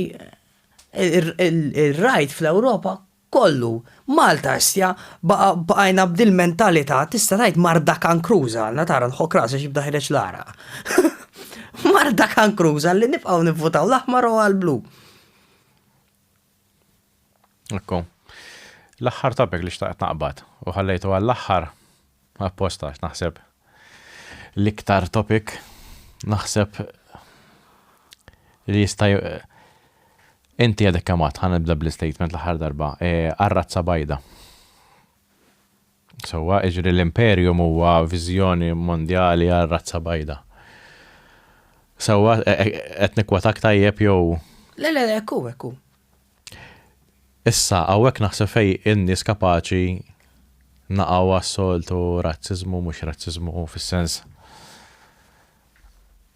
ir-Right fl-Ewropa kollu. Malta issa baqajna b'dil mentalità tista' tgħid marda kankruża għalna tara nħokk rasi għax jibda jħereġ l-għaraq. Marda kankruża li nibqgħu nivvutaw l-aħmar u għall-blu. Ekku. L-aħħar topic li xtaqt naqbad u ħallejtu għall-aħħar apposta naħseb l-iktar topic naħseb li jista' inti għadek kamat ħan nibda bl-statement l-aħħar darba e, għarrazza bajda. Sewwa, jiġri l-Imperium huwa viżjoni mondjali għar-razza bajda. Sewwa, qed nikkwotak tajjeb jew? Le, le, le, hekk hu, hekk hu. Issa, hawnhekk naħseb fejn in-nies kapaċi naqgħu għas-soltu razziżmu, mhux razziżmu fis-sens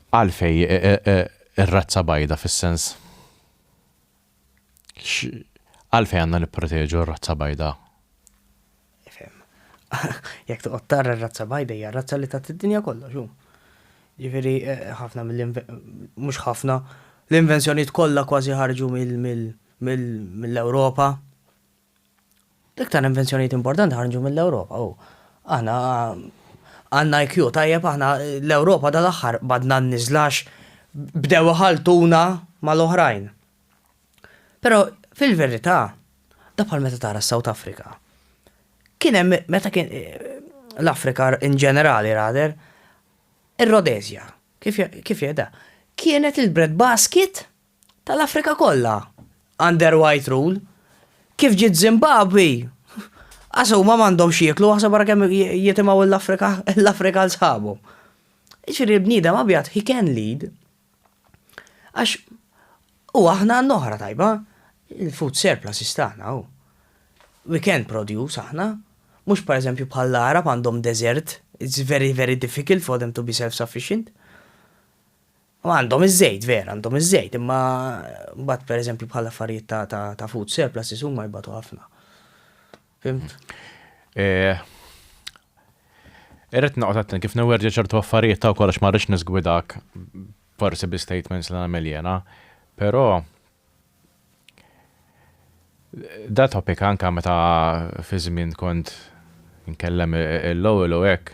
għalfejn ir-razza bajda fis-sens. Għalfejn għandna nipproteġu r-razza bajda? Ifhem. Jekk toqgħod tara r-razza bajda hija r-razza li tat id-dinja kollox hu. Jiġifieri ħafna mill mhux ħafna, l-invenzjonijiet kollha kważi ħarġu mill-Ewropa. L-iktar invenzjonijiet importanti ħarġu mill-Ewropa u aħna għandna IQ tajjeb aħna l-Ewropa dal-aħħar badna n-niżlax bdew iħalltuna mal-oħrajn. Però fil-verità da bħal meta tara s-South Africa. Kien hemm meta kien l-Afrika in ġenerali rather ir-Rodezja kif kif jeda kienet il-bread basket tal-Afrika kollha under white rule. Kif ġiet Zimbabwe, qas huma m'għandhom x'jieklu aħseb ara kemm jitimgħu l-Afrika l-Afrika għal sħabhom. Jiġifieri l-bniedem abjad he can lead għax u aħna għandna oħra tajba, il-food surplus istagħna hu. We can produce aħna, mhux pereżempju bħall-Għarab għandhom deżert, it's very very difficult for them to be self-sufficient. Għandhom iż-żejt, vera, għandhom iż-żejt, imma mbagħad pereżempju bħal affarijiet ta' food surpluses huma jbatu ħafna. Fimt? Eh, Irrit naqgħod attent kif newerġi ċertu affarijiet ta' kollox ma rridx nisgwidak forsi bi statements li nagħmel jena, però Da topic anka meta fi żmien kont nkellem il-lowell u hekk,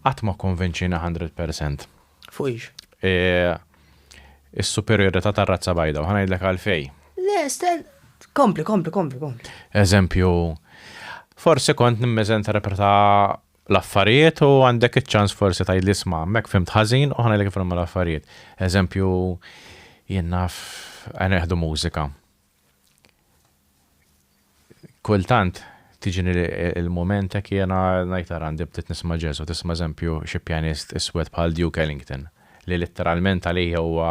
qatt ma kkonvinċieni hundred percent. Fuq ix? Is-superjorità tar-razza bajda u ħa ngħidlek għalfejn. Le, stenn, kompli, kompli, kompli, kompli. Eżempju, forsi kont nimmiżenterpreta l-affarijiet u għandek iċ-ċans forsi tgħidli isma' hemmhekk fimt ħażin u ħanejlek kif nagħmel l-affarijiet. Eżempju, jien naf neħdu mużika. Kultant tiġini il-moment hekk jiena ngħid ara għandi bdiet nisma' jazz u tisma' eżempju xi pjanist iswed bħal Duke Ellington li litteralment għalih huwa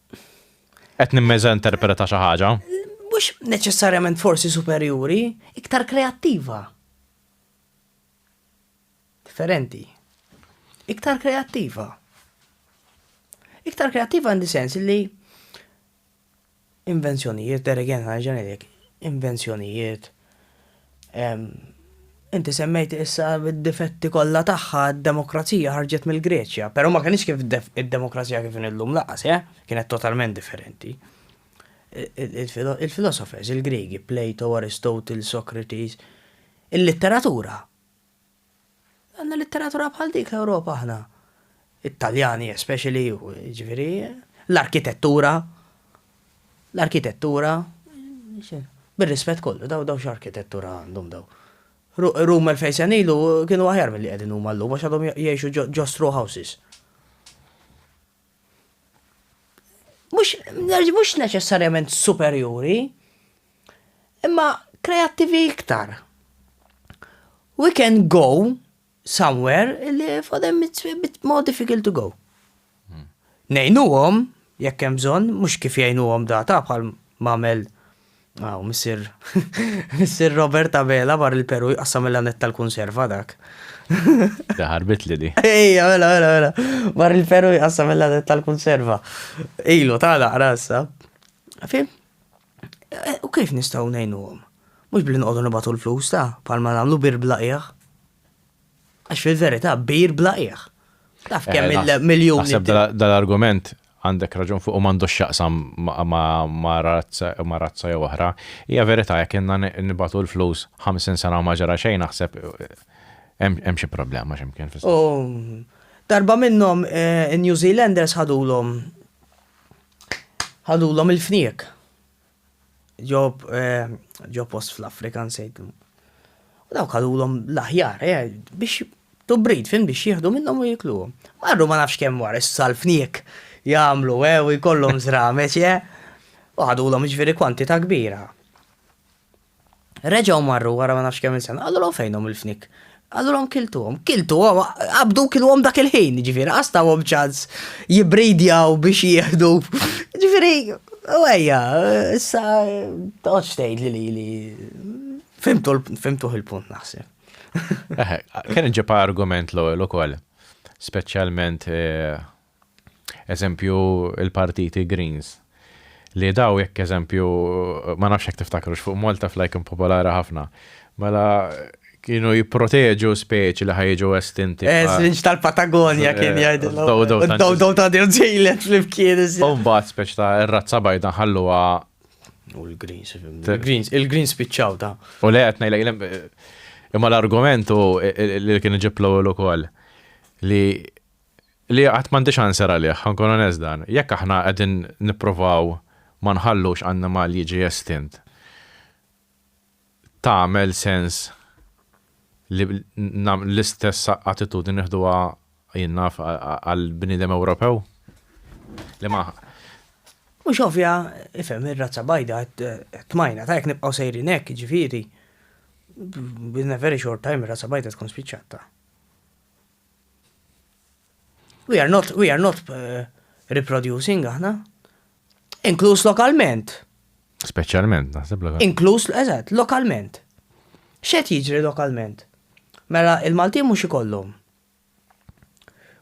Qed nimmeża interpreta xi ħaġa. Mhux neċessarjament forsi superjuri, iktar kreattiva. Differenti. Iktar kreattiva. Iktar kreattiva għandi sens li invenzjonijiet, deregen ħarġan invenzjonijiet, Inti semmejt issa d-difetti kollha tagħha, d-demokrazija ħarġet mill-Greċja, però ma kinitx kif id-demokrazija kif inhi llum lanqas, eh? Kienet totalment differenti. Il-filosofers, il-Griegi, Plato, Aristotle, Socrates, il-litteratura Għandna litteratura bħal dik l-Ewropa aħna. It-Taljani especially, jiġifieri, l-arkitettura, l-arkitettura, bir-rispett kollu, daw daw x'arkitettura għandhom daw. Rum 2000 sena ilu kienu aħjar milli qegħdin huma llum għax għadhom jgħixu ġo straw houses. mhux neċessarjament superjuri, imma kreattivi iktar. We can go somewhere li for them it's a bit more difficult to go. Hmm. Nejnuhom, jekk hemm bżonn, mhux kif jgħinuhom data bħal mamel Hawn missier missier Robert Abela mar il-Peru jqassam il-lanett tal-kunserva dak. Da ħarbitli di. Ejja, mela, mela, mela. Mar il-Peru jqassam il-lanett tal-kunserva. Ilu, ta' naqra issa. Fim? Eh, u kif nistgħu ngħinuhom? Mhux bli noqogħdu nibatu l-flus ta' palma nagħmlu bir blaqiegħ. Għax fil-verità bir bla qiegħ. Taf kemm eh, il-miljun. Naħseb dal-argument għandek raġun fuq u m'għandux x'jaqsam ma' razza jew oħra. Hija verità jekk inna nibatu l-flus 50 sena ma ġara xejn naħseb eh, hemm xi problema x'imkien fis Darba minnhom eh, New Zealanders ħadulhom ħadulhom il-fniek. ġob ġo post fl-Afrika nsejtlu. U dawk għalulhom l-aħjar, eh, biex tubrid fin biex jieħdu minnhom u jikluhom. Marru ma nafx kemm wara s-salfniek jagħmlu eh, u jkollhom żrameċ eh. U ħadulhom ġifieri kwantità kbira. Reġgħu marru wara ma nafx kemm sena, qalulhom fejnhom il-fnik. Qalulhom kiltuhom, kiltuhom, qabdu kilhom dak il-ħin, ġifieri qastawhom ċans jibridjaw biex jieħdu. Ġifieri, u ejja, issa toqgħodx tgħid li li fimtuh il-punt naħseb. Kien ġibha argument l-ewwel ukoll, speċjalment eh, Eżempju il-partiti Greens. Li daw jekk eżempju, ma nafx jekk tiftakrux, fuq Malta Fly kien popolari ħafna. Mela kienu jipproteġu speċi li ħajġu estinti. Eż, l-inġ tal-Patagonja kien jgħidilhom. Dodo. Dodo ta' dir ġejlet flimkien. Umbat speċi ta' r-razza bajda ħalluha. U l-Greens, il-Greens, il-Greens spiċċaw ta'. U le qed ngħidlek imma l-argumentu li kien iġiblu l ukoll li li qatt m'għandix answer għalih, ħankun onest dan. Jekk aħna qegħdin nipprovaw ma nħallux annimal jiġi estint, tagħmel sens li l-istess attitudni nieħduha jien naf għall-bniedem Ewropew? Li ma Mhux ovvja, ifhem ir-razza bajda tmajna ta' jekk nibqgħu sejrin hekk, jiġifieri, in a very short time ir-razza bajda tkun spiċċat ta'. We are not, we are not uh, reproducing aħna. Inkluż lokalment. Speċjalment, naħseb lokalment. Inkluż, eżatt, lokalment. Xed jiġri lokalment? Mela, il-Malti mhux ikollhom.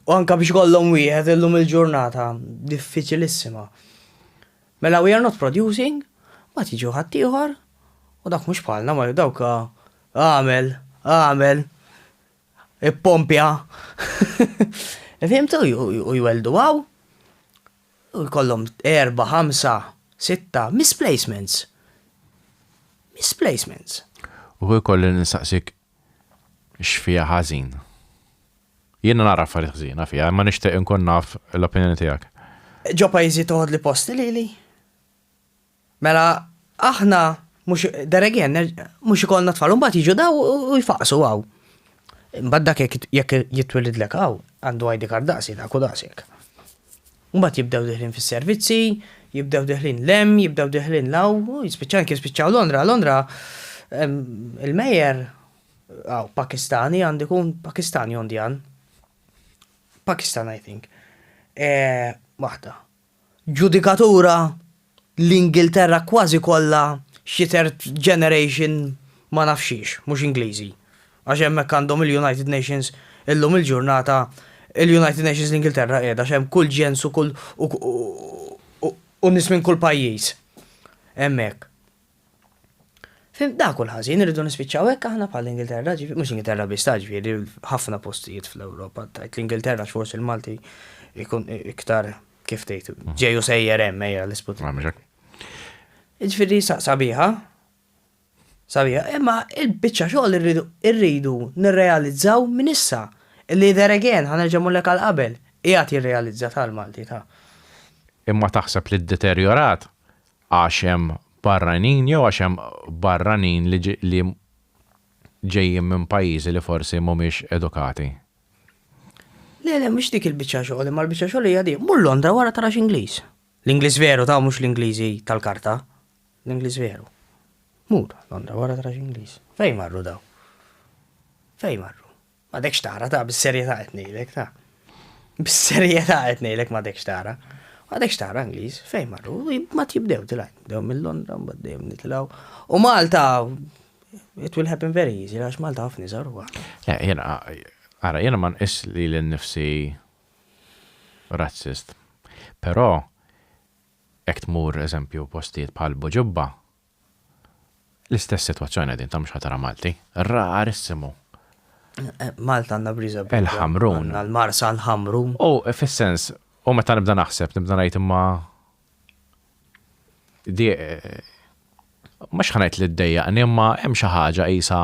U anka biex kollhom wieħed illum il-ġurnata diffiċilissima. Mela we are not producing, ma tiġu ħaddieħor, u dak mhux bħalna ma dawk ah, għamel, għamel, Ippompja. Fimtu, u jweldu għaw. U jkollhom erba, ħamsa, sitta, misplacements. Misplacements. U jkolli nistaqsik x'fija ħażin. Jiena nara affarijiet ħżiena fija, imma nixtieq inkun naf l-opinjoni tiegħek. Ġo pajjiżi toħodli posti lili. Mela aħna mhux there again mhux ikollna tfal u mbagħad jiġu daw u jfaqsu hawn. Mbagħad dak jekk jitwilidlek hawn għandu ID card daqsi dak u daqshekk. Mbagħad jibdew diħlin fis-servizzi, jibdew diħlin lem, jibdew diħlin law, jispiċċaw anke jispiċċaw Londra, Londra il-mejer għaw Pakistani għandu jkun Pakistani Indian. Pakistan I think. E, waħda. Ġudikatura l-Ingilterra kważi kollha xi third generation ma naf xiex, mhux Ingliżi. Għax hemmhekk għandhom il-United Nations illum il-ġurnata, il-United Nations l-Ingilterra qiegħda għax hemm kull ġens u kull u nies minn kull pajjiż hemmhekk. Fim, dak hu l-ħażin, irridu nispiċċaw hekk aħna bħall-Ingilterra, ġifi, mhux Ingilterra biss, ta' ġifieri ħafna postijiet fl-Ewropa, tgħid l-Ingilterra għax forsi l-Malti jkun iktar kif tgħid, ġej u sejjer hemm ejja l-isput. Ġifieri sabiħa, sabiħa, imma il-biċċa xogħol irridu nirrealizzaw minn issa. Li there again, ħanerġa' mullek għal qabel, qiegħed jirrealizza tal-Malti ta'. Imma taħseb li ddeterjorat? għax hemm barranin jew għax hemm barranin li li ġejjin minn pajjiżi li forsi mhumiex edukati? Le, le, mhix dik il-biċċa xogħol, imma l-biċċa xogħol hija din. Mur Londra wara tara x'Ingliż. L-Ingliż veru ta' mhux l-Ingliżi tal-karta. L-Ingliż veru. Mur Londra wara tara x'Ingliż. Fejn marru daw? Fejn marru? M'għadekx tara, ta' bis-serjetà qed ngħidlek, ta' bis-serjetà qed ngħidlek m'għadekx tara. Għadek xtara Ingliż, fejn marru, ma tibdew tilaj, dew mill-Londra, mbaddew nitilaw. U Malta, it will happen very easy, għax Malta għafni zaru għu. Eh, jena, għara, jena man is li l-nifsi razzist. Pero, ekt mur, eżempju, postiet pal boġubba, L-istess situazzjoni din ta' mhux ħatara Malti. Rarissimu. Malta għandna briża b'dan. Il-ħamrun. Għandna l-marsa l-ħamrun. U fis-sens, u meta nibda naħseb, nibda ngħid imma di ma xħanajt li d-dejjaqni imma hemm xi ħaġa qisha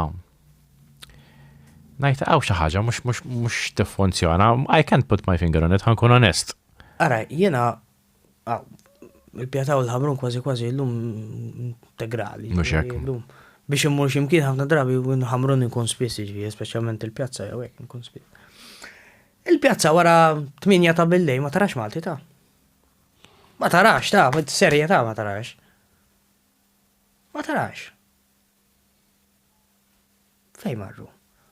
Najt għaw xi ħaġa mhux mhux mhux tiffunzjona. I can't put my finger on it, ħankun onest. Ara, jiena Il-pjata u l-ħamrun kważi kważi llum integrali. Mhux hekk. Biex immur xi mkien ħafna drabi ħamrun inkun spiss jiġri, speċjalment il-pjazza jew hekk inkun spiss. Il-pjazza wara 8 ta' billej ma tarax Malti ta'. Ma tarax ta', serje ta' ma tarax. Ma tarax. Fej marru?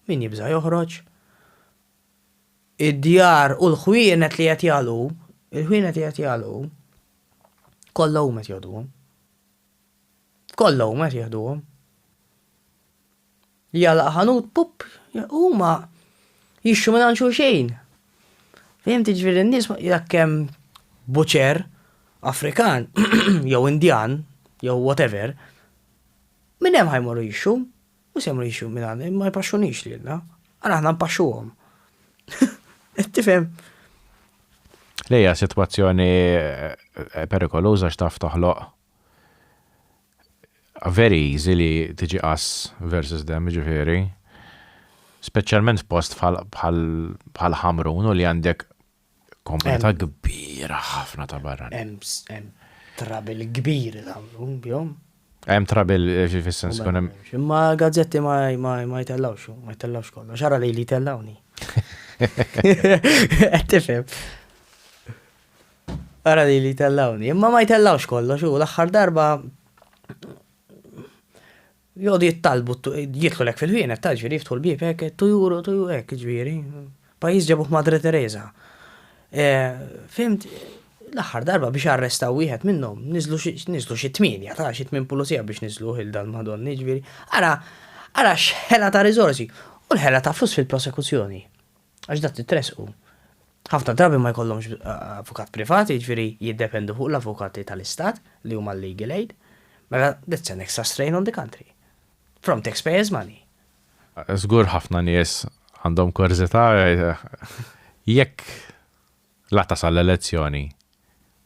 Min jibża joħroġ? id-djar u l-ħwienet li qed jagħlqu, il-ħwienet li qed jagħlqu, kollha huma qed jieħduhom. Kollha huma qed jieħduhom. Jalaq ħanut, pup, huma jixxu minn xi xejn. Fehim tiġri n-nies jekk hemm buċer Afrikan jew Indjan jew whatever, minn hemm ħajmorru jixxu, Mhux se ngħixu minn għandna, ma jpaxxunix lilna. Ara aħna npaxxuhom. Tifhem? Lejja sitwazzjoni eh, perikoluża x'taf toħloq very easy li tiġi us versus them ġifiri. Speċjalment post bħal ħamrun u li għandek Komunità kbira ħafna ta' barra. Hemm trabil kbir tagħmlu bihom. Hemm trabil eh, fis-sens kun hemm. Imma gazzetti ma jtellawx, ma jtellawx kollox. Xara li li jtellawni. Qed tifhem. Ara li li jtellawni. Imma ma jtellawx kollox u l-aħħar darba Jgħodu jitalbu jidħlu hekk fil-ħwienet ta' ġifieri jiftħu l-bieb hekk two euro two euro hekk ġifieri. Pajjiż ġabuh Madre Teresa. Fhimt l-aħħar darba biex arrestaw wieħed minnhom niżlu xi niżlu xi tmienja ta' xi tmien pulizija biex niżluh il dal Madonna jiġifieri ara ara x'ħela ta' riżorsi u l-ħela ta' flus fil-prosekuzzjoni. Għax dak titressqu. Ħafna drabi ma jkollhomx avukat privat, jiġifieri jiddependu fuq l-avukati tal-istat li huma l-legal aid. Mela that's an extra strain on the country. From taxpayers' money. Żgur ħafna nies għandhom kurżità jekk La tasal l-elezzjoni.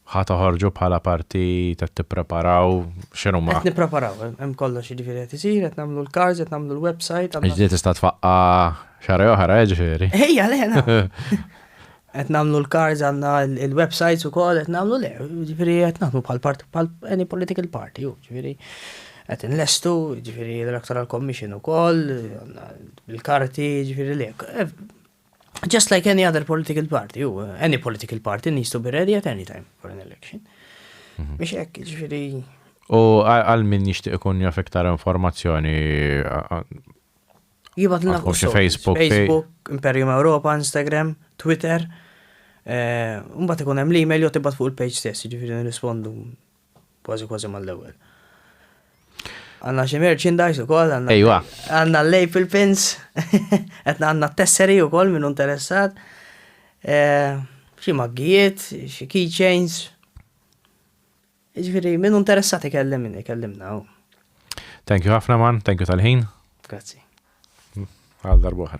Ħa toħorġu bħala partit, qed tippreparaw, x'inhuma? Qed nippreparaw, hemm kollox jiġifieri qed isir, qed nagħmlu l-cards, qed nagħmlu l-website. Ġdid tista' tfaqqa' xahar oħra, eh, ġifieri. Ejja, le, qed nagħmlu l-cards għandna l-websites ukoll qed nagħmlu le, ġifieri qed nagħmlu bħal parti bħal any political party, ġifieri qed inlestu, ġifieri l-Electoral Commission ukoll, il-karti, ġifieri le. just like any other political party, u uh, any political party needs to be ready at any time for an election. Mhm. Biex hekk, ġifieri. U għal min jixtieq ikun jaf iktar informazzjoni Jibat l Facebook, Facebook, Imperium Europa, Instagram, Twitter. Eh, mbagħad ikun hemm l-email jew tibgħat fuq il-page stess, jiġifieri nirrispondu Kważi kważi mal-ewwel. Għanna xi merchandise ukoll, għanna Ejwa. għanna l-April pins, qed għanna t-tesseri ukoll minn interessat. Eh, xi maggijiet, xi keychains. Ġifieri minn interessat ikellim minn ikellimna. u- Thank you ħafna man, thank you tal-ħin. Grazzi. Għal darbohra.